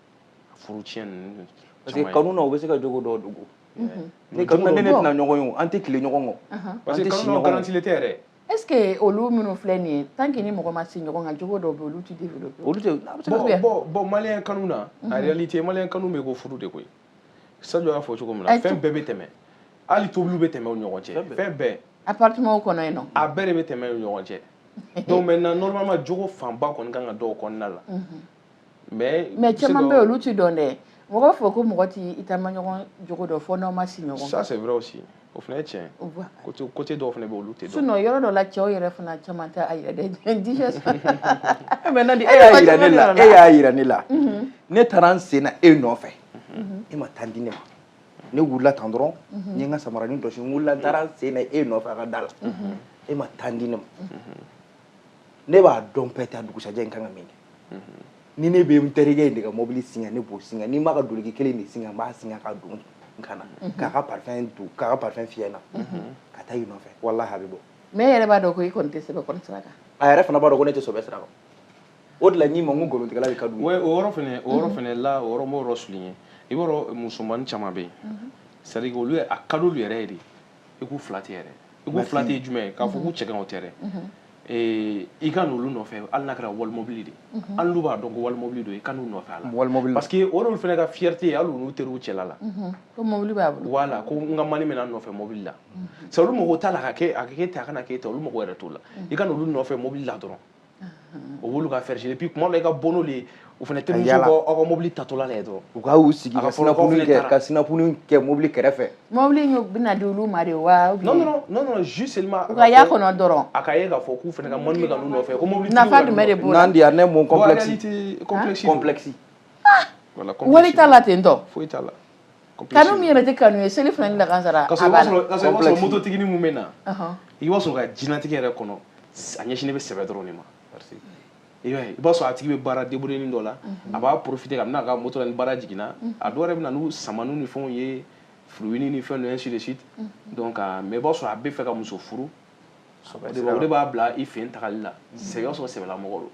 furu tiɲɛ ninnu parce que kanu na u bɛ se ka jogo dɔw dogo ne kanu na ne ne tɛna ɲɔgɔn ye an tɛ tilen ɲɔgɔn kɔ parce que kanu na garantilen tɛ yɛrɛ Est-ce que olu minnu filɛ nin ye tant que ni mɔgɔ ma sigi ɲɔgɔn kan jogo dɔw bɛ yen olu tɛ développer olu tɛ a bɛ se ka bon bon bon malien kanu na en réalité malien kanu b'i ko furu de koyi Sadio y'a fɔ cogo min na fɛn bɛɛ bɛ tɛmɛ hali tobiliw bɛ tɛmɛ u ni ɲɔgɔn cɛ fɛn bɛɛ appartement kɔnɔ yen nɔ a bɛɛ de bɛ tɛmɛ u ni ɲɔgɔn cɛ donc maintenant normalement jogo fanba kɔni ka kan ka dɔn o kɔnɔna la. mais caman bɛ olu tɛ dɔn dɛ mɔgɔ fɔ ko mɔgɔ tɛ i taama ɲɔgɔn jogo dɔn fo n'aw ma si ɲɔgɔn ça c'est vrai aussi o fana ye tiɲɛ ye côté dɔw fana bɛ olu tɛ dɔn sinon yɔrɔ dɔ la cɛw yɛrɛ fana caman tɛ a yɛrɛ dɛ dijɛ mais nadi e y'a yira ne la e y'a yira ne la ne taara n sen na e nɔfɛ e ma temps di ne ma ne wulila tan dɔrɔn n ye n ka samaranin jɔsi n wulila n taara n sen na e nɔfɛ a ka da la e ma temps di ne ma ne b'a dɔn peut-être dugusajɛ n kan ka min kɛ ni ne bɛ n terikɛ in de ka mobili singa ne b'o singa ni n b'a ka duloki kelen de singa n b'a singa ka don n kan na k'a ka parfum don k'a ka parfum fiyɛ n na ka taa i nɔfɛ walahi a bɛ bɔ mais e yɛrɛ b'a dɔn ko i kɔni tɛ sɛbɛ kɔni sira kan a yɛrɛ fana b'a dɔn ko ne tɛ sɛbɛ sira kan o de la n'i ma n ko nkalontigɛla de ka d'u ye o yɔrɔ fana o yɔrɔ fana la o yɔrɔ n b'o yɔrɔ souligner i b'a dɔn musomannin caman bɛ yen c'est à dire olu a ka d'olu yɛrɛ ye de i ko flatter yɛrɛ i ko flatter jumɛn k'a fɔ ko cɛgɛn o tɛ dɛ eh, i ka n'olu nɔfɛ hali n'a kɛra walimobili de hali n'u b'a dɔn ko walimobili don i ka n'u nɔfɛ a la walimobili parce que o de fana ka fierté ye hali n'u teriw cɛla la ko mobili b'a bolo voilà ko n ka mani bɛ na n nɔfɛ mobili la c'est olu mago t'a la ka kɛ a ka kɛ ten a kana kɛ ten olu mago yɛrɛ t'o la i ka n'olu nɔfɛ mobili la dɔrɔn o b'olu ka fierté puis kuma dɔ i ka bɔ n'olu ye u fana terimuso b'aw ka mobili taatɔla la ye dɔrɔn u ka u sigi ka sinapuni kɛ ka sinapuni kɛ mobili kɛrɛfɛ mobili in bɛna di olu ma de wa non non non non juste seulement u ka y'a kɔnɔ dɔrɔn a ka ye k'a fɔ k'u fana ka mani bɛ ka n'u nɔfɛ ko mobili nafa jumɛn de b'o la n'an di yan ne mon complexe complexe complexe wali t'a la ten tɔ foyi t'a la kanu min yɛrɛ tɛ kanu ye selifana ni lakansara a b'a la k'a sɔrɔ mototigi mun bɛ na i b'a sɔrɔ ka jinatigɛ yɛrɛ kɔnɔ a ɲɛsinnen bɛ sɛbɛ dɔrɔn de ma i b'a ye i b'a sɔrɔ a tigi bɛ baara débrouillernin dɔ la a b'a profiter ka n'a ka moto la ni baara jiginna a dɔw yɛrɛ bɛ na n'u samaniw ni fɛnw ye fruitnin ni fɛn ninnu ainsi de suite donc mais i b'a sɔrɔ a b'a fɛ ka muso furu o de b'a bila i fɛ yen tagali la sɛbɛ i b'a sɔrɔ sɛbɛlamɔgɔ don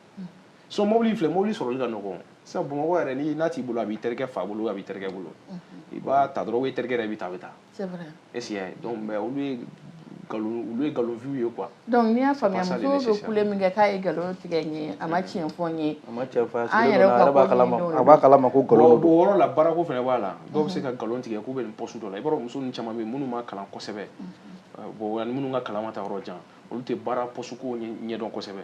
so mobili filɛ mobili sɔrɔli ka nɔgɔn sisan bamakɔ yɛrɛ ni n'a t'i bolo a b'i terikɛ fa bolo a b'i terikɛ bolo i b'a ta dɔrɔn i terikɛ yɛrɛ bɛ taa a bɛ taa esi y'a ye donc mais olu ye nkalon olu ye nkalon vie ye quoi donc n'i y'a faamuya muso bɛ kule min kɛ k'a ye nkalon tigɛ n ye a ma tiɲɛ fɔ n ye a ma tiɲɛ fɔ an yɛrɛ b'a kalama a b'a kalama ko nkalon don o yɔrɔ la baarako fana b'a la dɔw bɛ se ka nkalon tigɛ k'u bɛ nin poste dɔ la i b'a dɔn muso ninnu caman bɛ yen minnu ma kalan kosɛbɛ bon ani minnu ka kalan ma taa yɔrɔ jan olu tɛ baara poste ko ɲɛdɔn kosɛbɛ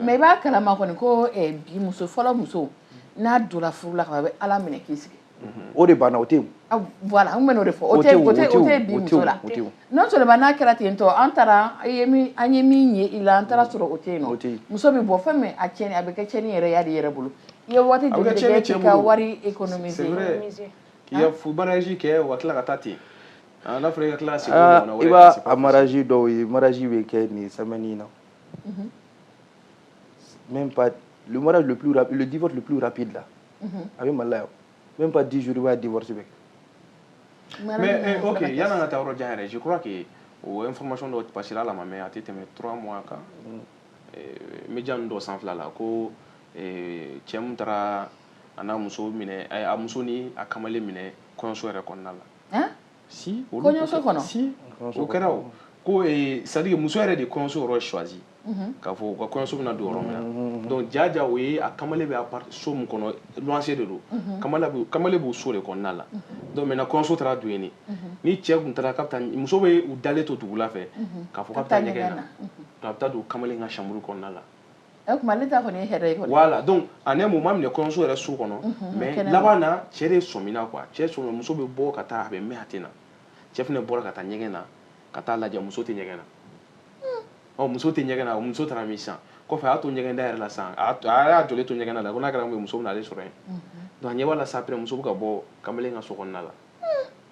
mais i b'a kalama kɔni ko eh, bi muso fɔlɔ muso n'a donna furu la kaban a bɛ ala minɛ k'i sigi mhm. o de banna o tɛ ah, voilà an bɛn'o de fɔ o tɛ o tɛ o tɛ bi muso la non seulement n'a kɛra ten tɔ an taara an ye min an ye min ye i la an taara sɔrɔ o tɛ yen non muso bɛ bɔ fɛn min a tiɲɛni a bɛ kɛ tiɲɛni yɛrɛ y'a de yɛrɛ bolo i ye waati joli de kɛ k'i ka wari économiser k'i ka mariage kɛ wa tila ka taa ten Ah, n'a fɔra i ka tila ka segin Aa, ɲɔgɔnna wɛrɛ i kan, b'a c'est pas a mariage dɔw ye mariage bɛ kɛ nin semaine in na même pas le mariage le plus rapide le divorce le plus rapide là a bɛ mali la yan même pas 10 jours i b'a ye divorce bɛ kɛ Mara mais bɛ eh, ɲɔgɔn ok fana kɛ. yan'an ka taa yɔrɔ jan yɛrɛ je crois que o information dɔ passera a la a ma mɛn a tɛ tɛmɛ 3 mois kan Eh, media ninnu dɔ sanfɛla la ko eh, cɛ min taara a n'a muso minɛ eh, a muso ni a kamalen minɛ kɔɲɔso yɛrɛ kɔnɔna la si kɔɲɔso kɔnɔ si o kɛra o ko eh, c'est-à-dire que muso yɛrɛ de ye kɔɲɔso yɔrɔ choisi mhm. k'a fɔ u ka kɔɲɔso bɛna don yɔrɔ min na mhm. donc jaja o ye a kamalen bɛ so min kɔnɔ luwanse de don mhm. kamalen b'o so de kɔnɔna la donc maintenant kɔɲɔso taara don yen ni cɛ tun taara k'a bɛ taa muso bɛ u dalen to dugula fɛ k'a fɔ k'a bɛ taa ɲɛgɛn na a bɛ taa don kamalen ka chambre kɔnɔna la Eh, kuma ne ta kɔni ye hɛrɛ ye kɔni voilà donc à un moment minɛ kɔɲɔso yɛrɛ so kɔnɔ mhm, mais laban na cɛ de sɔmina quoi cɛ sɔmina muso bɛ bɔ ka taa a bɛ mɛn a tɛ na cɛ fana bɔra ka taa ɲɛgɛn na ka taa lajɛ muso tɛ ɲɛgɛn na hmm. ɔ muso tɛ ɲɛgɛn na muso taara min sisan kɔfɛ a y'a to ɲɛgɛn da yɛrɛ la sisan a y'a jɔlen to ɲɛgɛn da la ko n'a kɛra mun ye muso bɛna ale sɔrɔ yen mhm. donc a ɲɛ b'a la sa après muso bɛ ka bɔ kamalen ka so kɔnɔna la hmm.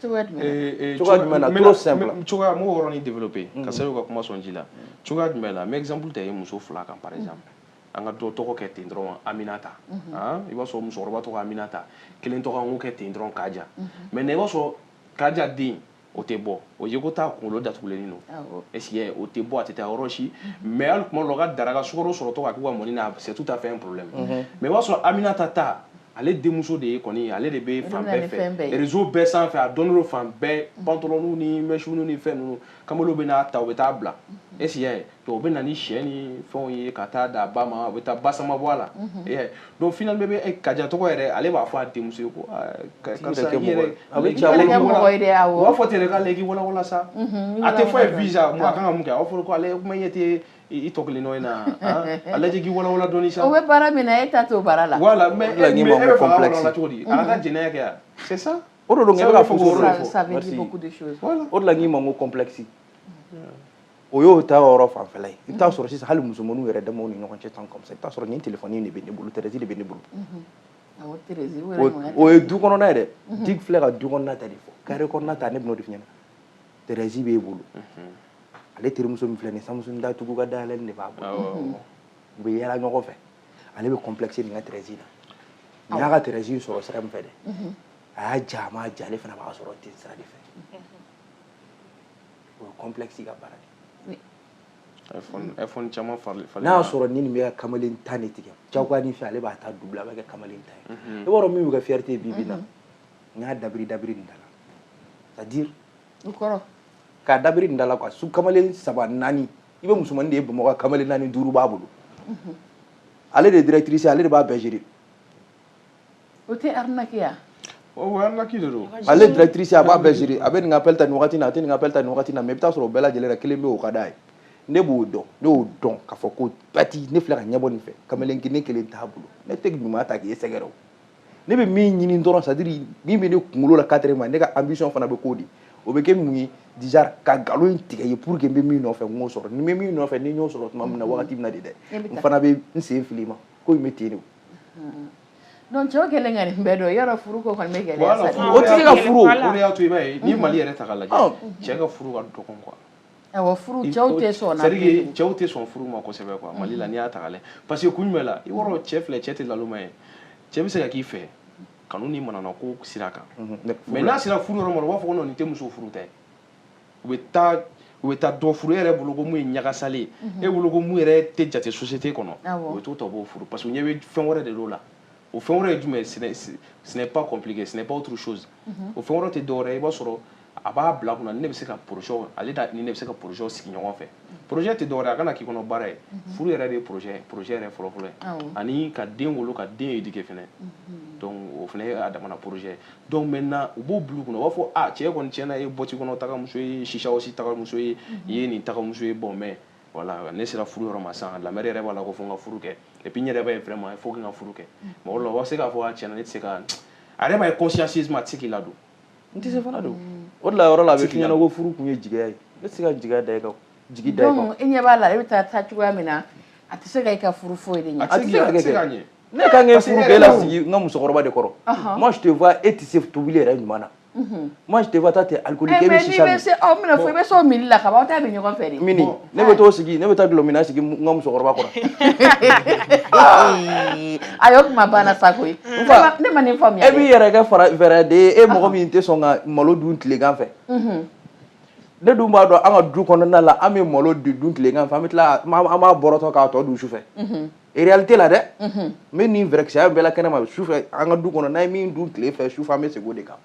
cogoya jumɛn na cogoya jumɛn na trop simple cogoya n b'o yɔrɔnin développer kosɛbɛ ka kuma sɔn ji la cogoya jumɛn na n bɛ exemple ta i ye muso fila kan par exemple an ka dɔ tɔgɔ kɛ ten dɔrɔn Aminata i b'a sɔrɔ musokɔrɔba tɔgɔ Aminata kelen tɔgɔ an k'o kɛ ten dɔrɔn Kaja maintenant i b'a sɔrɔ Kaja den o tɛ bɔ o ye ko taa kunkolo datugulen don e o tɛ bɔ a tɛ taa yɔrɔ si mais hali tuma la ka daraka sukaro sɔrɔtɔ k'u ka mɔni na c'est tout à fait propre mais i b'a sɔrɔ Aminata ta ale denmuso de ye kɔni ale de bɛ fan bɛɛ fɛ réseau bɛɛ sanfɛ a dɔnnen fan bɛɛ bant ni mec ni fɛn ninnu kamalenw bɛ n'a ta u bɛ taa bila e ye to o bɛ na ni sɛ ni fɛnw ye ka taa da ba ma o bɛ taa ba sama bɔ a la don fina bɛ bɛ kaja tɔgɔ yɛrɛ ale b'a fɔ a denmuso ye ko b'a fɔ tɛ k'ale k'i walawa sa a tɛ fɔ ye visa a kan ka mun kɛ aw fɔra ko ale kuma ɲɛ tɛ i tɔ kelen in na ale k'i wawa dɔn sa bɛ baara min e taa to baara la wala mɛ cogo di ala ka jɛnɛ kɛ sisan o don fɔ o la k'i ma ko complexe o y'o ta yɔrɔ fanfɛla ye i bɛ t'a sɔrɔ sisan hali musomanninw yɛrɛ damaw ni ɲɔgɔn cɛ tan kɔmi sisan i bɛ t'a sɔrɔ nin telefɔni in de bɛ ne bolo treize de bɛ ne bolo o ye du kɔnɔna ye dɛ ne filɛ ka du kɔnɔna ta de fɔ kare kɔnɔna ta ne bɛn'o de f'i ɲɛna treize b'e bolo ale terimuso min filɛ nin ye Samsung datugu ka dayɛlɛli de b'a bolo u bɛ yɛlɛ ɲɔgɔn fɛ ale bɛ complexe nin ka treize la nin y'a ka treize sɔrɔ sira min fɛ dɛ a y'a ja a m'a ja ale fana b'a sɔrɔ ten sira de fɛ o ye complexe ka baara de ye. iPhone iPhone caman falen falen. N'a y'a sɔrɔ ni nin bɛ ka kamalen tan de tigɛ jagoya nin fɛ ale b'a ta doubler a b'a kɛ kamalen tan ye. Mhm. I b'a dɔn min bɛ kɛ fierté ye bi bi in na. Mhm. N y'a dabiri dabiri nin da la c'est à dire. O kɔrɔ. K'a dabiri nin da la quoi su kamalen saba naani i bɛ musomanin de ye Bamakɔ kamalen naani duuru b'a bolo. Mhm. Ale de ye directrice ye ale de b'a bɛɛ gérer. O tɛ arnaquer wa? O arnaque de don. Ale directrice a b'a bɛɛ gérer a bɛ nin ka appel ta nin waati in na, a tɛ nin ka appel ta nin waati in na mais i bɛ taa sɔrɔ o bɛɛ lajɛlen na kelen bɛ yen o ka d'a ye. Ne b'o dɔn ne y'o dɔn k'a fɔ ko Pati ne filɛ ka ɲɛbɔ nin fɛ kamalennin kelen t'a bolo ne tɛ ɲuman ta k'e sɛgɛrɛ o. Ne bɛ min ɲini dɔrɔn c'est à dire min bɛ ne kunkolo la quatrièmement ne ka ambition fana bɛ k'o de ye o bɛ kɛ mun ye déjà ka nkalon in tigɛ ye pour que n bɛ min nɔfɛ n k'o sɔrɔ ni n bɛ min nɔfɛ ni n y'o sɔrɔ tuma min na wagati min na de dɛ n fana bɛ n sen fili i ma ko in bɛ ten de o. Donc cɛw kɛlen ka nin bɛɛ dɔn yɔrɔ furu ko kɔni bɛ gɛlɛya sa dɛ. Bon o tigi ka furu, Voilà, o de y'a to i b'a ye n'i ye Mali yɛrɛ ta k'a lajɛ, ɔn, cɛ ka furu ka dɔgɔn quoi awɔ furu cɛw tɛ sɔn o la, c'est à dire que cɛw tɛ sɔn furu ma kosɛbɛ quoi Mali la n'i y'a ta k'a lajɛ parce que kun jumɛn la i b'a dɔn cɛ filɛ cɛ tɛ nalonma ye cɛ bɛ se ka k'i fɛ kanu ni manamana ko sira kan, unhun, mais n'a sera furu yɔrɔ ma dɔrɔn u b'a fɔ ko non nin tɛ muso furu ta ye u bɛ taa u bɛ taa dɔ furu e yɛrɛ bolo ko mun ye ɲagasalen ye mhm. e bolo ko mun yɛrɛ tɛ jate société kɔnɔ u bɛ t'o ta u b'o furu parce que u ɲɛ bɛ fɛn wɛrɛ de l'o la o fɛn wɛrɛ ye jumɛn ye ce n'est pas compliqué ce n'est pas autre chose mhm. o fɛn wɛrɛ tɛ dɔwɛrɛ ye i b'a sɔrɔ a b'a bila kunna ni ne bɛ se ka projet ale da ni ne bɛ se ka projet sigi ɲɔgɔn fɛ projet tɛ dɔwɛrɛ a kana k'i kɔnɔ baara ye mhm. furu yɛrɛ de ye projet ye projet yɛrɛ fɔlɔfɔlɔ ye ani ka den wolo ka den éduquer fɛnɛ mhm. donc o fɛnɛ ye a damana projet donc maintenant u b'o bulu kɔnɔ u b'a fɔ a ah, cɛ kɔni tiɲɛna ye boîte kɔnɔ tagamuso ye shisha house tagamuso ye mhm. i ye nin tagamuso ye bon mais voilà ne sera furu yɔrɔ ma sisan la mère yɛrɛ b'a la ko fo n ka furu kɛ et puis n yɛrɛ b'a ye vraiment il faut que n ka furu kɛ mɔgɔ dɔ la u b'a se k'a fɔ a ah, tiɲɛna ne tɛ se ka a yɛrɛ b'a ye consciemment a tɛ se k'i ladon n tɛ se fana don o de la yɔrɔ la a bɛ kɛ n ɲɛ na ko furu kun ye jigiya ye ne tɛ se ka jigiya da i kan jigi da i kan donc i ɲɛ b'a la e bɛ taa taa cogoya min na a tɛ se ka i ka furu foyi de ɲɛ a tɛ se ka kɛ ne ka e furu k'e lasigi n ka musokɔrɔba de kɔrɔ moi je te vois e tɛ se tobili yɛrɛ ɲuman na moi je te vois toi tu es alcoolique e bɛ shisha min mais n'i bɛ se ɔ n bɛna fɔ i bɛ se o minni la ka ban aw ta bɛ ɲɔgɔn fɛ de mini ne bɛ t'o sigi ne bɛ taa dɔlɔminna sigi n ka musokɔrɔba kɔrɔ a y'o kuma banna sa koyi ne ma nin faamuya e b'i yɛrɛ kɛ fara fɛɛrɛ de ye e mɔgɔ min tɛ sɔn ka malo dun tilegan fɛ ne dun b'a dɔn an ka du kɔnɔna la an bɛ malo dun tilegan fɛ an bɛ tila an b'a bɔrɔtɔ k'a tɔ dun sufɛ réalité la dɛ n bɛ nin fɛɛrɛkisɛya bɛɛ la kɛnɛma sufɛ an ka du kɔnɔ n'an ye min dun tile fɛ sufɛ an bɛ segin o de kan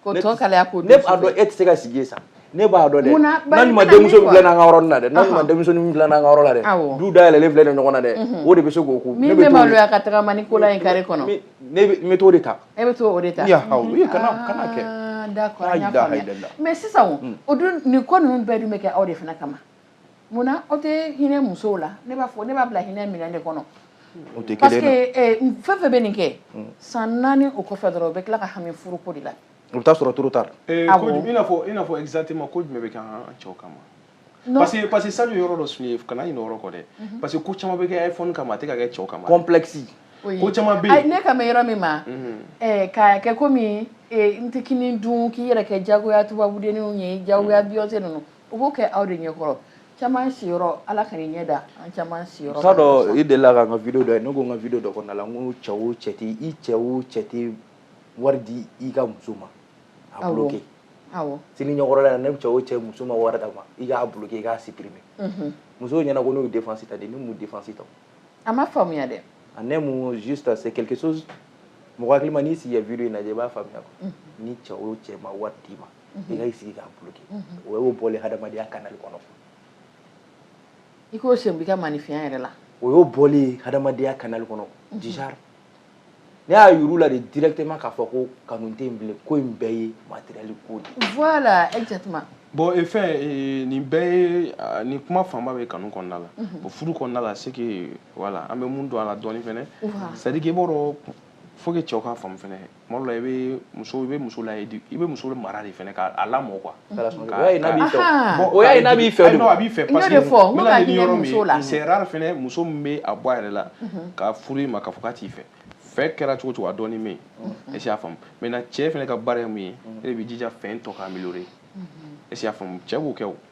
K'o tɔ kalaya ko ne b'a dɔn e tɛ se ka sigi yen sa ne b'a dɔn dɛ mun na bari n'an ma kana ne denmuso min quoi? dilan an ka yɔrɔ la dɛ n'an ma denmuso min dilan an ka yɔrɔ la dɛ Awɔ. du dayɛlɛlen filɛ nin ye ɲɔgɔn na dɛ o de bɛ se k'o ko min bɛ maloya ka tagama ni kola ye kare kɔnɔ ne bɛ n bɛ t'o de ta e bɛ to o de ta Ya Alahu, ee, kana kana kɛ Ah, d'accord, an y'a Layilaha faamuya. ilala. mais sisan o, o dun nin ko ninnu bɛɛ dun bɛ kɛ aw de fana kama munna aw tɛ hinɛ musow la ne b'a fɔ ne b'a bila hinɛ minɛ de kɔnɔ parce que eh, fɛn fɛn bɛ nin kɛ hmm. san naani o kɔfɛ dɔrɔn u bɛ tila ka hami furuko de la u bɛ taa sɔrɔ trop tard eh, ah i n'a fɔ i n'a fɔ exactement ko jumɛn bɛ kɛ an cɛw kama parce que parce que sani yɔrɔ dɔ suye kana ɲinɛ yɔrɔ kɔ dɛ mhm. parce que ko caman bɛ kɛ iphone kama a tɛ ka kɛ cɛw kama complexe ko caman bɛ yen ne kan bɛ yɔrɔ min ma mhm. eh, k'a kɛ komi n tɛ kini dun k'i yɛrɛ kɛ jagoya tubabudenninw ye jagoya mhm. Beyoncé ninnu U b'o kɛ aw de ɲɛkɔrɔ caman si ala ka ɲɛ da an caman si t'a dɔn i delila k'an ka vidéo ye ne ko n ka vidéo kɔnɔna la n cɛ o cɛ tɛ i cɛ o cɛ tɛ wari di i ka muso ma a kɛ sini ɲɛkɔrɔla ni cɛ o cɛ muso ma wari d'a ma i k'a kɛ i k'a supprimer muso ɲɛna ko n'u défense ta nin ni défense ta a ma faamuya dɛ a ne ta se quelque chose mɔgɔ hakilima n'i sigi vidéo in lajɛ i b'a faamuya ni cɛ o cɛ ma wari d'i ma i ka i sigi k'a bloquer o y'o bɔlen hadamadenya canal kɔnɔ i k'o sen b'i ka maanifinya yɛrɛ la o y'o bɔlen hadamadenya canal kɔnɔ déjà ne y'a yira u la de directement k'a fɔ ko kanu tɛ yen bilen ko in bɛɛ ye matériel ko de ye voilà exactement bon e fɛn e, nin bɛɛ ye nin kuma fanba bɛ kanu kɔnɔna la bon furu kɔnɔna la c'est que voilà an bɛ mun don a la dɔɔni fɛnɛ c'est à dire que i b'a dɔn faut que cɛw k'a faamu fɛnɛ tuma dɔ la i bɛ muso i bɛ muso la i bɛ muso mara de fana k'a lamɔ quoi o y'a ye n'a b'i fɛ o y'a ye n'a b'i fɛ a b'i fɛ parce que n bɛna ni yɔrɔ min ye c'est rare fana muso min bɛ a bɔ a yɛrɛ la ka furu i ma k'a fɔ k'a t'i fɛ fɛn kɛra cogo o cogo a dɔɔni bɛ yen est ce que y'a faamu maintenant cɛ fana ka baara ye min ye e de b'i jija fɛn tɔ ka améliorer est ce que y'a faamu cɛ b'o kɛ o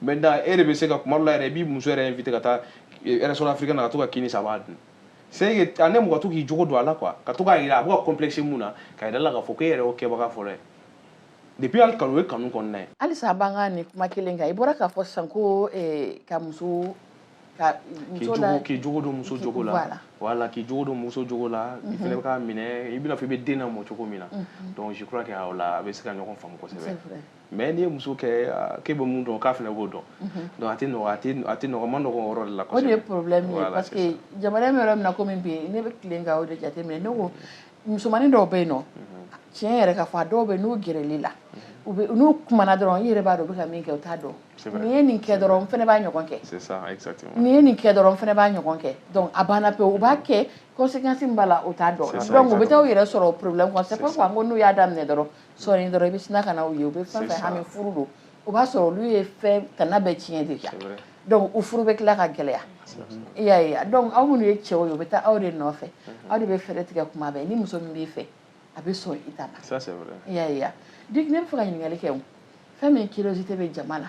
maintenant e de bɛ se ka kuma dɔ la yɛrɛ i b'i muso yɛrɛ inviter ka taa restaurant eh, africain na ka to ka kini san a b'a dun c'est que a ne mɔgɔ to k'i jogo don a la quoi ka to k'a yira a bɛ ka complexe mun na ka yira la k'a fɔ k'e yɛrɛ y'o kɛbaga fɔlɔ ye depuis hali kanu o ye kanu kɔnɔna ye halisa an b'an ka nin kuma kelen kan i bɔra k'a fɔ sisan ko eh, ka muso ka muso la k'i jogo don muso jogo la voilà k'i jogo don muso jogo la i fana bɛ k'a minɛ i bɛna fɔ i bɛ den lamɔ cogo min na donc je crois que o la a bɛ se ka ɲɔgɔn faamu kosɛbɛ mais n'i ye muso kɛ k'e bɛ min dɔn k'a fana b'o dɔn donc a tɛ nɔgɔ a tɛ nɔgɔ ma nɔgɔ yɔrɔ de la kosɛbɛ o de ye problème ye parce que jamana in bɛ yɔrɔ min na komi bi ne bɛ tilen ka o de jateminɛ ne ko musomanin dɔw bɛ yen nɔ tiɲɛ yɛrɛ ka fɔ a dɔw bɛ n'u gɛrɛl'i la u bɛ n'u kumana dɔrɔn i yɛrɛ b'a dɔn u bɛ ka min kɛ u t'a dɔn nin ye nin kɛ dɔrɔn n fana b'a ɲɔgɔn kɛ nin ye nin kɛ dɔrɔn n fana b'a ɲɔgɔn kɛ donc a banna pewu u b'a kɛ conséquence min b'a la u t'a dɔn donc u bɛ taa u yɛrɛ sɔrɔ problème kɔnɔ c'est pourquoi n ko n'u y'a daminɛ dɔrɔn sɔɔni dɔrɔn i bɛ sina ka na u ye u bɛ fɛn fɛn hami furu don o b'a sɔrɔ olu ye fɛn tana bɛɛ tiɲɛ déjà donc u furu bɛ tila ka gɛlɛya i y'a ye donc aw minnu ye cɛw ye u bɛ taa aw de nɔfɛ aw de bɛ fɛɛrɛ tigɛ kuma bɛɛ ni muso min b'i fɛ a bɛ sɔn i ta ma i y'a ye donc ne b'a fɛ ka ɲininkali kɛ fɛn min curiosité bɛ jama na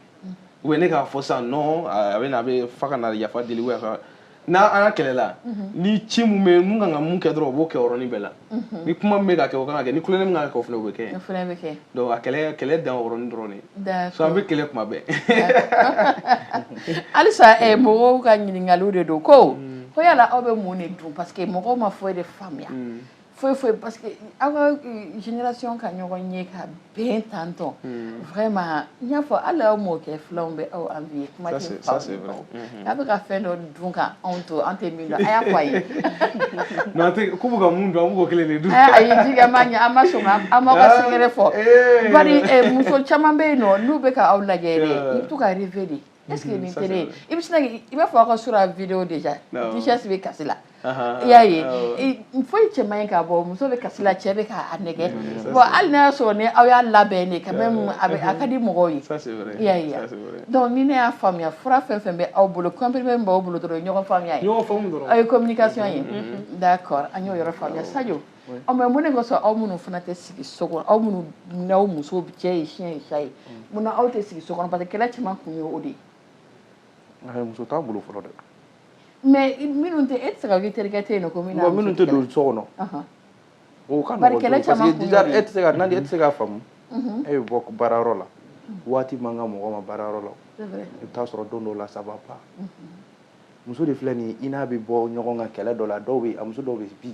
u bɛ na k'a fɔ sisan non a bɛ na a b'a fɛ ka na yafa deli ou ka n'a an ka kɛlɛla ni ci min bɛ min kan ka min kɛ dɔrɔn o b'o kɛ yɔrɔnin bɛɛ la ni kuma min bɛ ka kɛ o kan ka kɛ ni kulonkɛ min kan ka kɛ o fana o bɛ kɛ yen donc a kɛlɛ kɛlɛ dan o yɔrɔnin dɔrɔn de ye sinon an bɛ kɛlɛ kuma bɛɛ halisa eh, mɔgɔw ka ɲininkaliw de don ko ko yala aw bɛ mun de dun parce que mɔgɔw ma foyi de faamuya mm. foyi foyi parce que aw ka euh, génération ka ɲɔgɔn ye ka bɛn tan tɔn hmm. vraiment n y'a fɔ hali aw mɔkɛ filanw bɛ aw envier kuma tɛ fa hmm. n'a bɛ ka fɛn dɔ dun ka anw to an tɛ min dɔn a y'a fɔ an ye non an tɛ ko bɛ ka min dun an b'o kelen de dun eh, ayi jigi an ma ɲɛ an ma sɔn aw m'aw ka secret fɔ bari muso caman bɛ yen nɔ n'u bɛ ka aw lajɛ dɛ u bɛ to ka rêver de est ce que ni teri ye i bɛ sin i b'a fɔ aw ka surɔ vidéo déjà Duchesse bɛ kasi la i y'a ye fo cɛ in k'a bɔ muso bɛ kasi la cɛ bɛ k'a nɛgɛ bɔn hali n'a y'a sɔrɔ ni aw y'a labɛn quand même a ka di mɔgɔw ye i y'a ye donc ni ne y'a faamuya fura fɛn fɛn bɛ aw bolo comprimé min b'aw bolo dɔrɔn ɲɔgɔn faamuya ye communication ye d'accord an y'o yɔrɔ faamuya sa ɔ mais mun de ka sɔrɔ aw minnu fana tɛ sigi so kɔnɔ aw minnu n'aw muso cɛ ye siɲɛ ye sa ye mun na aw tɛ sigi so kɔnɔ parce que kɛlɛ caman kun ye o de ye. muso t'a bolo fɔlɔ dɛ. mais minnu tɛ e tɛ se ka k'i terikɛ tɛ yen non ko min na. minnu tɛ don so kɔnɔ. o ka nɔgɔ dɔɔni parce que déjà e tɛ se ka nali e tɛ se k'a faamu. e bɛ bɔ baarayɔrɔ la waati man kan mɔgɔ ma baarayɔrɔ la i bɛ taa sɔrɔ don dɔw la ça va pas muso de filɛ nin ye i n'a bɛ bɔ ɲɔgɔn kan kɛlɛ dɔ la dɔw bɛ a muso dɔw bɛ bi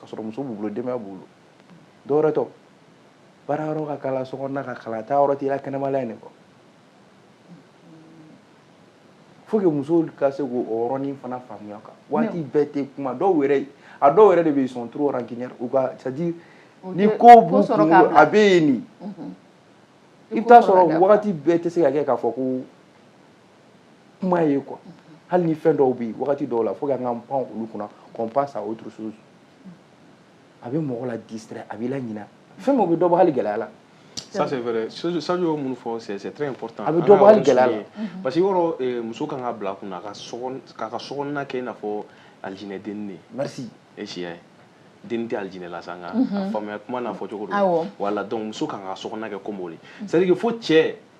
ka sɔrɔ muso b'u bolo denbaya b'u bolo dɔ yɛrɛ ta baara yɔrɔ ka kalan so kɔnɔna ka kalan taa yɔrɔ t'i la kɛnɛmala in de kɔ fo que musow ka se k'o yɔrɔnin fana faamuya kan waati bɛɛ tɛ kuma dɔw yɛrɛ a dɔw yɛrɛ de bɛ yen sont trop rancunières quoi c'est à dire ni ko b'u kɔnɔ a bɛ yen nin i bɛ taa sɔrɔ wagati bɛɛ tɛ se ka kɛ k'a fɔ ko kuma ye quoi hali ni fɛn dɔw bɛ yen wagati dɔw la fo k'an k'an pan olu kunna qu'on passe à autre chose a bɛ mɔgɔ la distraire a b'i laɲina fɛn min o bɛ dɔ bɔ hali gɛlɛya la ça c'est vrai Sadio y'o minnu fɔ c'est très important a bɛ dɔ bɔ hali gɛlɛya la parce que yɔrɔ eh, muso kan ka bila a kunna k'a ka sokɔnɔna kɛ i n'a fɔ alijinɛ denni Dieu merci e si y'a ye denni tɛ alijinɛ la sa nka a faamuya kuma n'a fɔcogo don voilà donc muso kan ka sokɔnɔna kɛ comme o de c'est à dire que fo cɛ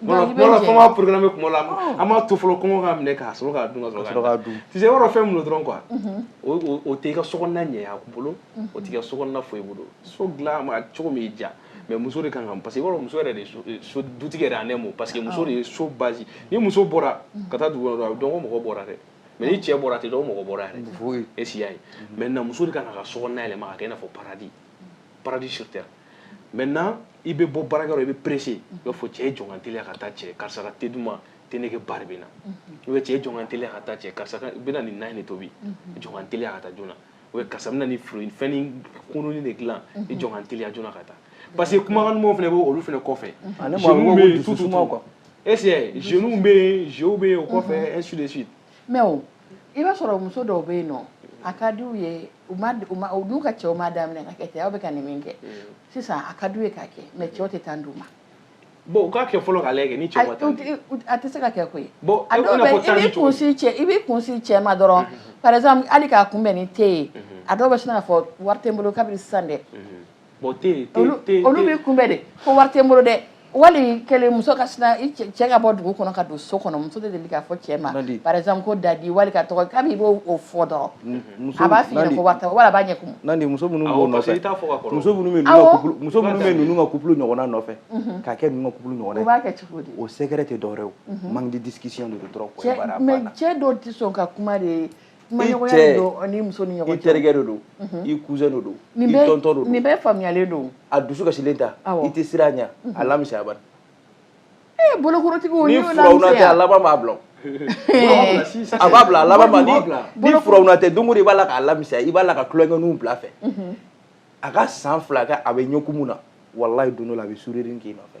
kuma la porokanna bɛ kuma la an b'a to fɔlɔ kɔngɔ k'a minɛ k'a sɔrɔ k'a dun ka sɔrɔ k'a dun tise yɔrɔ fɛn min dɔrɔn quoi o tɛ i ka sokɔnɔna ɲɛ a bolo o t'i ka sokɔnɔna foyi bolo so dilan ma cogo min y'i diya mais muso de kan ka parce que i b'a dɔn muso yɛrɛ de ye so dutigi yɛrɛ en un mot parce que muso de ye so base ni muso bɔra ka taa dugu kɔnɔ dɔrɔn a bɛ dɔn ko mɔgɔ bɔra dɛ mais ni cɛ bɔra a tɛ dɔn ko mɔgɔ bɔra yɛrɛ est ce que i y'a ye maintenant muso de kan k'a ka sokɔnɔna yɛlɛma k'a kɛ i n'a fɔ paradis paradis sur terre maintenant i bɛ bɔ baarakɛyɔrɔ i bɛ pressé i b'a fɔ cɛ i jɔ n ka n teliya ka taa cɛ karisa ka te duman te nege bari bɛ n na ou bien cɛ i jɔ n ka n teliya ka taa cɛ karisa ka bɛna nin na in de tobi jɔ n ka n teliya ka taa joona ou bien karisa bɛna nin fruit fɛn ni kununi de dilan i jɔ n ka n teliya joona ka taa parce que kumakan dumanw fana bɛ olu fana kɔfɛ jeunes bɛ yen tout tout est ce que jeunes bɛ yen jeunes bɛ yen o kɔfɛ ainsi de suite mais o i b'a sɔrɔ muso dɔw bɛ yen non a ka d'u ye n'u ka cɛw ma daminɛ ka kɛ cɛ aw bɛ ka nin min kɛ sisan a ka d'u ye k'a kɛ mais cɛw tɛ temps d'u ma u k'a kɛ fɔlɔ k'ale ni a tɛ se ka kɛ koyi i kun cɛ i b'i kun sin cɛ ma dɔrɔn par exemple hali k'a kunbɛn ni te ye a dɔw bɛ sin k'a fɔ wari tɛ n bolo kabini sisan dɛ Bon tɛ olu b'i kunbɛn de ko wari tɛ n bolo dɛ wali kɛlen muso ka cɛ ka bɔ dugu kɔnɔ ka don so kɔnɔ muso de deli k'a fɔ cɛ ma par exemple ko dadi wali k'a tɔgɔ kabini i b'o fɔ dɔrɔn a b'a fɔ ɲɛ b'a kulu ɲɔgɔn nɔfɛ ka kɛ ɲɔgɔn'a kɛ cogo o sɛgɛrɛ tɛ dɔw man di disi dɔrɔn mais cɛ dɔw tɛ sɔn ka kuma de ye ni muso ni ɲɔgɔn cɛ i terikɛ de don mhm. i cousin de don i tonton de don nin bɛɛ faamuyalen don a dusu kasilen ta i tɛ siran a ɲɛ mhm. a l'amuser bani ee eh, bolokorotigiw ni furawuna tɛ a laban b'a bila a b'a bila a laban ma ni furawuna tɛ don o don i b'a la k'a l'amuser i b'a la ka tulonkɛninw bil'a fɛ mhm. a ka san fila kɛ a bɛ ɲɛkumu na walayi don dɔ la a bɛ sourire k'i nɔfɛ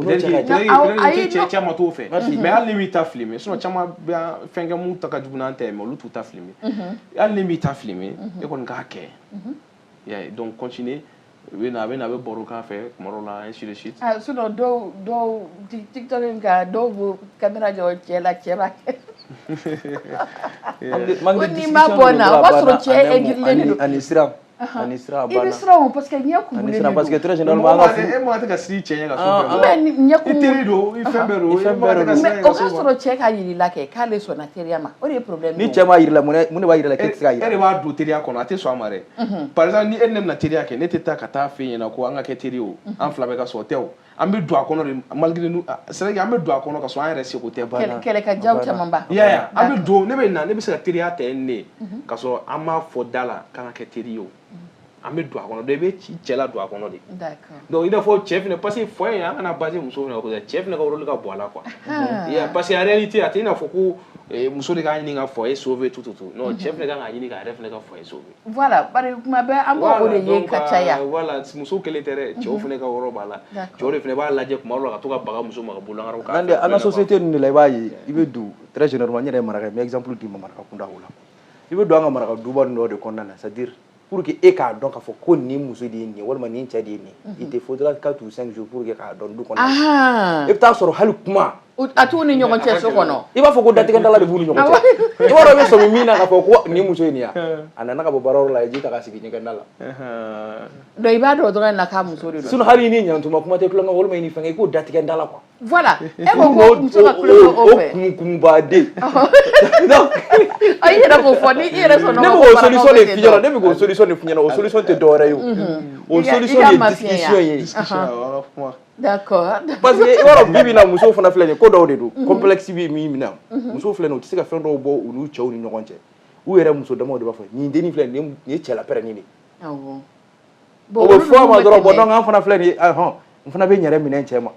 cɛ caman t'o fɛ mais hali n'i b'i ta filmer sinon caman bɛ fɛnkɛ mun ta ka jugu n'an ta ye mais olu t'u ta filmer hali n'i b'i ta filmer e kɔni k'a kɛ y'a ye donc continuer u bɛ na a bɛ na a bɛ baro k'a fɛ kuma dɔw la ainsi de suite sinon dɔw dɔw tiktok in kan dɔw b'o kamera jɔ cɛ la cɛ b'a kɛ ko n'i ma bɔ n na o b'a sɔrɔ cɛ aigrilen don ani siran ani siran banna i bɛ siran o parce que ɲɛ kumunen de don ani siran parce que très généralement an ka furu e m'a tɛ ka siran i cɛ ɲɛ ka so fɛ mais ɲɛ kumu i teri don i fɛn bɛɛ don i fɛn bɛɛ don mais o k'a sɔrɔ cɛ k'a yir'i la kɛ k'ale sɔnna teriya ma o de ye problème ni cɛ m'a yir'i la mun de b'a yir'i la k'e tɛ se ka yira e de b'a don teriya kɔnɔ a tɛ sɔn a ma dɛ par exemple ni e ni ne bɛna teriya kɛ ne tɛ taa ka taa f'e ɲɛna ko an ka kɛ teri ye o an fila bɛɛ ka sɔn o tɛ o an bɛ don a kɔnɔ de malgré nous ah, c'est vrai que an bɛ don a kɔnɔ ka sɔrɔ an yɛrɛ sago tɛ banna kɛlɛ ka jaw caman ba ya ya an bɛ don ne bɛ na ne bɛ se ka teriya tɛ ne mhm. ka sɔrɔ an m'a fɔ da la k'an ka kɛ teri ye o mhm. an bɛ don a kɔnɔ donc i bɛ cɛ ladon a kɔnɔ de donc i n'a fɔ cɛ fana parce que foyer an kana baser muso fana kan cɛ fana ka rôle ka bon a la quoi ya parce que en réalité a tɛ i n'a fɔ ko eh, muso de k'a ɲini ka foyer sauver tout tout tout non mhm. cɛ fana ka kan k'a ɲini k'a yɛrɛ fana ka foyer sauver Voilà, bari kuma bɛɛ an b'o o de ye ka caya, voilà donc muso kelen tɛ dɛ, cɛw fana ka yɔrɔ b'a la, cɛw de fana b'a lajɛ tuma dɔw la ka to ka baga muso ma ka bololankaw k'a la, an ka société ninnu de la i b'a ye, i bɛ don très généralement n yɛrɛ ye maraka ye n bɛ exemple d'i ma maraka kunda o la, i bɛ don an ka maraka duba ninnu dɔ de kɔnɔna na c'est à dire pour que e k'a dɔn k'a fɔ ko nin muso de ye nin ye walima nin cɛ de ye nin ye, il te faudra quatre ou cinq jours pour que k'a dɔn du kɔnɔ, anhan, i bɛ taa sɔrɔ hali kuma A t'u ni ɲɔgɔn cɛ so kɔnɔ i b'a fɔ ko datigɛ dala de b'u ni ɲɔgɔn cɛ i b'a dɔn i bɛ sɔmi min na k'a fɔ ko nin muso in de ye wa a nana ka bɔ baarayɔrɔ la a ye ji ta ka sigi ɲɛgɛnda la donc i b'a dɔn dɔrɔn na k'a muso de don sinon hali i ni ɲantuma kuma tɛ tulonkɛ walima i ni fɛnkɛ i k'o datigɛ n da la quoi voilà e ko ko muso ka tulonkɛ o fɛ o kunkunbaden donc i yɛrɛ b'o fɔ ni i yɛrɛ sɔnna ne bɛ k'o solution de f'i ɲɛna ne bɛ k'o solution de f'i ɲɛna o solution tɛ dɔwɛrɛ ye o o solution de ye discussion ye d'accord parce que i b'a dɔn bi bi in na musow fana filɛ nin ye ko dɔw de don mhm. complexe bɛ min minɛ mhm. musow filɛ nin ye u tɛ se ka fɛn dɔw bɔ u n'u cɛw ni ɲɔgɔn cɛ u yɛrɛ muso damaw de b'a fɔ nin dennin filɛ nin ye cɛla pɛrɛnni de ye o bɛ fɔ a ma dɔrɔn bon donc an fana filɛ nin ye ahɔn n fana bɛ n yɛrɛ minɛ n cɛ ma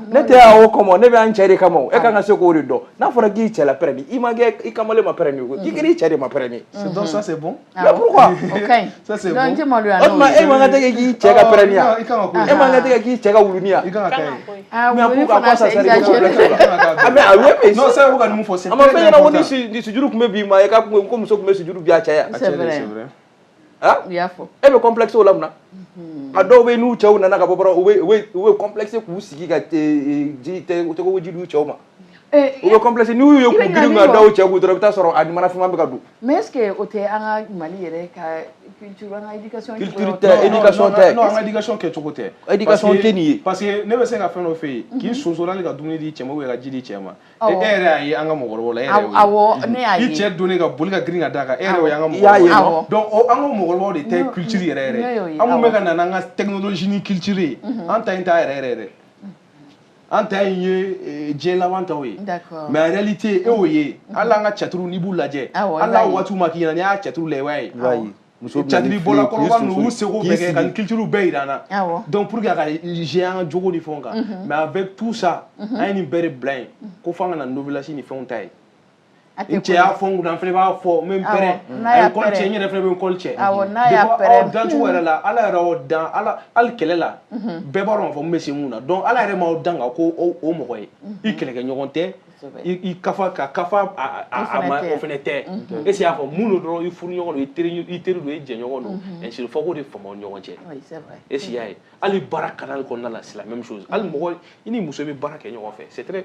ne tɛ yan o kama ne bɛ yan cɛ de kama e ka kan ka se k'o de dɔn n'a fɔra k'i cɛla pɛrɛnni i ma kɛ i kamalen ma pɛrɛnni ye i kɛra i cɛ de ma pɛrɛnni ye c'est donc ça c'est bon Ah, mais pourquoi ça c'est bon donc maloya non e man kan ka t'i kɛ i cɛ ka pɛrɛni ye e man kan ka t'i kɛ i cɛ ka wulunin ye ah wuluni fana c'est exagéré ah mais ah oui mais non ça vous ka numu fɔ c'est a ma fɔ an ɲɛna ko ni ni sujuru tun bɛ bin maa ye ko muso tun bɛ sujuru bin a cɛ ye c'est vrai ah u y'a fɔ e bɛ complexe o la mun na a dɔw bɛ n'u cɛw nana ka bɔ dɔrɔn u bɛ u bɛ u bɛ complexe k'u sigi ka ji tɛ tɔgɔ ji d'u cɛw ma U bɛ complexe n' y ye grin ka da cɛ dɔrɔn i bɛ taa sɔrɔ a mana fma bɛ ka don mɛ e o tɛ an ka mali yɛrɛ ka kɛ cogo tɛ tɛ nin ye parce que ne bɛ se ka fɛn dɔ fɛ yen k'i sonsola ka dumuni di cɛ ye ka ji di cɛ ma e yɛrɛ y' an ka mɔgɔ la e cɛ don ka boli ka grin ka da kan e y' an ka mɔgɔ de tɛ culture yɛrɛ an bɛ ka na an ka technologie ni culture an ta taa yɛrɛ yɛrɛ dɛ an ta in ye eh, diɲɛ laban taw ye mais en réalité e y'o ye hali an ka tiyatiriw n'i b'u lajɛ hali n'a waatiw ma k'i ɲɛna n'i y'an ka tiyatiriw lajɛ i b'a ye tiyatiribɔla kɔrɔba ninnu y'u seko bɛɛ kɛ ka nin culture bɛɛ jira an na donc pour que a ka jɛ an ka jogo ni fɛnw kan mais avec tout ça an ye nin bɛɛ de bila yen ko fo an ka na novelas ni fɛnw ta ye n cɛ y'a fɔ n kunna n fana b'a fɔ n bɛ n pɛrɛn a ye kɔli cɛ n yɛrɛ fana bɛ n kɔli cɛ depuis aw dancogo yɛrɛ la ala yɛrɛ y'aw dan ala hali kɛlɛ la bɛɛ b'a dɔn k'a fɔ n bɛ se mun na donc ala yɛrɛ m'aw dan ka ko o mɔgɔ ye i kɛlɛkɛɲɔgɔn tɛ i kafa ka kafa a ma o fana tɛ est ce que y'a faamu don dɔrɔn i furuɲɔgɔn don i teri i teri don i jɛɲɔgɔn don ainsi il faut k'o de faamu aw ni ɲɔgɔn cɛ est ce que y'a ye hali baara cadre kɔnɔna la c'est la même chose hali mɔgɔ i ni muso bɛ baara kɛ ɲɔgɔn fɛ c'est très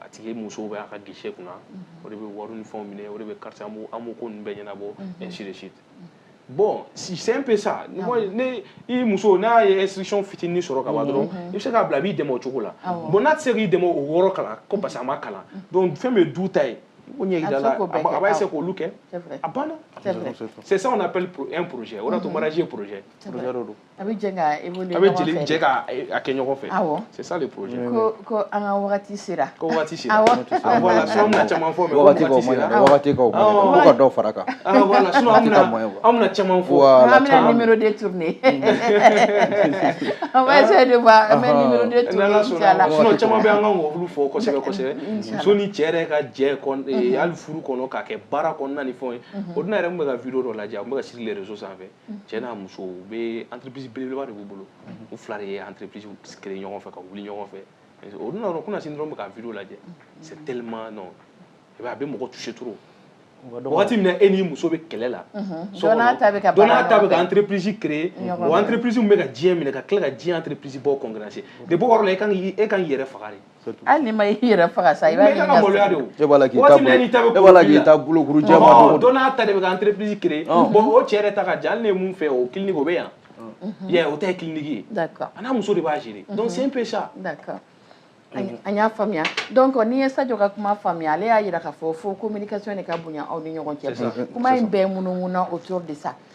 a tigi musow bɛ a ka guichet kunna o de bɛ wari ni fɛnw minɛ o de bɛ carte an b'o ko ninnu bɛɛ ɲɛnabɔ ainsi de suite bon c'est un peu ça n'i muso n'a ye instruction fitinin sɔrɔ ka ban dɔrɔn i bɛ se k'a bila a b'i dɛmɛ o cogo la bon n'a tɛ se k'i dɛmɛ o yɔrɔ kalan ko parce que a ma kalan donc fɛn bɛ du ta ye o ɲɛ yira a la a b'a essayer k'olu kɛ a banna c'est ça on appelle un projet o de y'a to mariage ye projet projet de don a bɛ jɛ ka évoluer a bɛ jɛ de jɛ ka a kɛ ɲɔgɔn fɛ awɔ c'est ça le projet ko ko an ka wagati sera ko wagati sera awɔ ah, voilà sinon an bɛna caman fɔ mais wagati ko man ɲi wagati ko man ɲi ko ka dɔ fara kan ah voilà sinon an bɛna an bɛna caman fɔ an bɛna numéro deux tourner on va essayer de voir an bɛ numéro deux tourner inchallah sinon caman bɛ an ka olu fɔ kosɛbɛ kosɛbɛ muso ni cɛ yɛrɛ ka jɛ hali furu kɔnɔ k'a kɛ baara kɔnɔna ni fɛnw ye o don yɛrɛ n bɛ ka vidéo dɔ lajɛ n bɛ ka sur les réseaux sanfɛ cɛ n'a muso u bɛ entreprise belebeleba de b'u bolo u fila de ye entreprise créer ɲɔgɔn fɛ ka wuli ɲɔgɔn fɛ o dun b'a dɔn kunasini dɔrɔn n bɛ ka video lajɛ c'est tellement non i b'a ye a bɛ mɔgɔ toucher trop wagati min na e n'i muso bɛ kɛlɛ la dɔ n'a ta bɛ ka entreprise créer o entreprise min bɛ ka diɲɛ minɛ ka tila ka diɲɛ entreprise baw concurrencer depuis o yɔrɔ la e ka kan k'i yɛrɛ faga dɛ Hali n'i ma i yɛrɛ faga sa i b'a ɲini ka sa. Mais i ka kan ka maloya de o. E b'a la k'i ta bolo. Waati bɛɛ n'i ta bɛ kɔnɔ. E b'a la k'i ta bolokuru jɛman don o don. Ɔhɔn, dɔ n'a ta de bɛ ka entreprise créer ɔnhɔn, bon o cɛ yɛrɛ ta ka jan hali ne ye min fɛ o clinique o bɛ yan, unhun, i y'a ye o ta ye clinique ye, d'accord a n'a muso de b'a gérer donc c'est un peu ça, d'accord an y'a faamuya donc n'i ye Sadio ka kuma faamuya ale y'a jira k'a fɔ fo communication de ka bonya aw ni ɲɔgɔn cɛ, c'est ça, kuma in bɛɛ munumununa autour de ça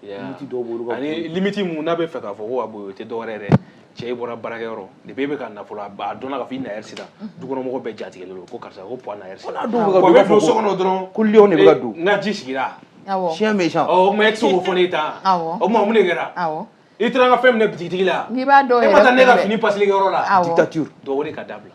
limiti dɔw b'olu kan ani limiti min n'a bɛ fɛ k'a fɔ ko a boyo o tɛ dɔwɛrɛ ye cɛ i bɔra baarakɛyɔrɔ depuis i bɛ ka na fɔlɔ a dɔnna k'a fɔ i naɛrɛ sera dukɔnɔmɔgɔ bɛɛ jatigɛlen don ko karisa ko pɔ naɛrɛ sera bɛ don so kɔnɔ dɔrɔn ko lion de bɛ ka don n ka ji sigira siɲɛ bɛ sa o mɛ e tɛ o fɔ ne ta o ma mun de kɛra i taara ka fɛn minɛ bitigitigi la n'i b'a dɔn e ma taa ne ka fini pasigiyɔrɔ la dictature dɔw ka dabila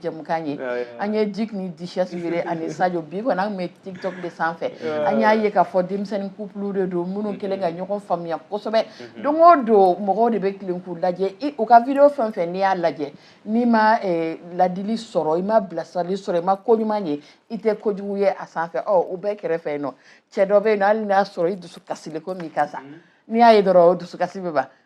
jɛmukan ye an ye jik ni disisi yɛrɛ ani Sajɔ bi kɔni an bɛ TikTok de sanfɛ an y'a ye k'a fɔ denmisɛnnin kuplu de don minnu mm-hmm. kɛlen ka ɲɔgɔn faamuya kosɛbɛ mm-hmm. don o don mɔgɔw de bɛ tilen k'u lajɛ u ka vi fɛn fɛn n'i y'a lajɛ n'i ma eh, ladili sɔrɔ i ma bilasirali sɔrɔ i ma ko ɲuman ye i tɛ kojugu ye a sanfɛ ɔ u bɛɛ kɛrɛfɛ yen nɔ cɛ dɔ bɛ yen nɔ hali n'a sɔrɔ i dusu kasilen ko min ka sa mm-hmm. n'i y'a ye dɔrɔn o dusukasi bɛ ban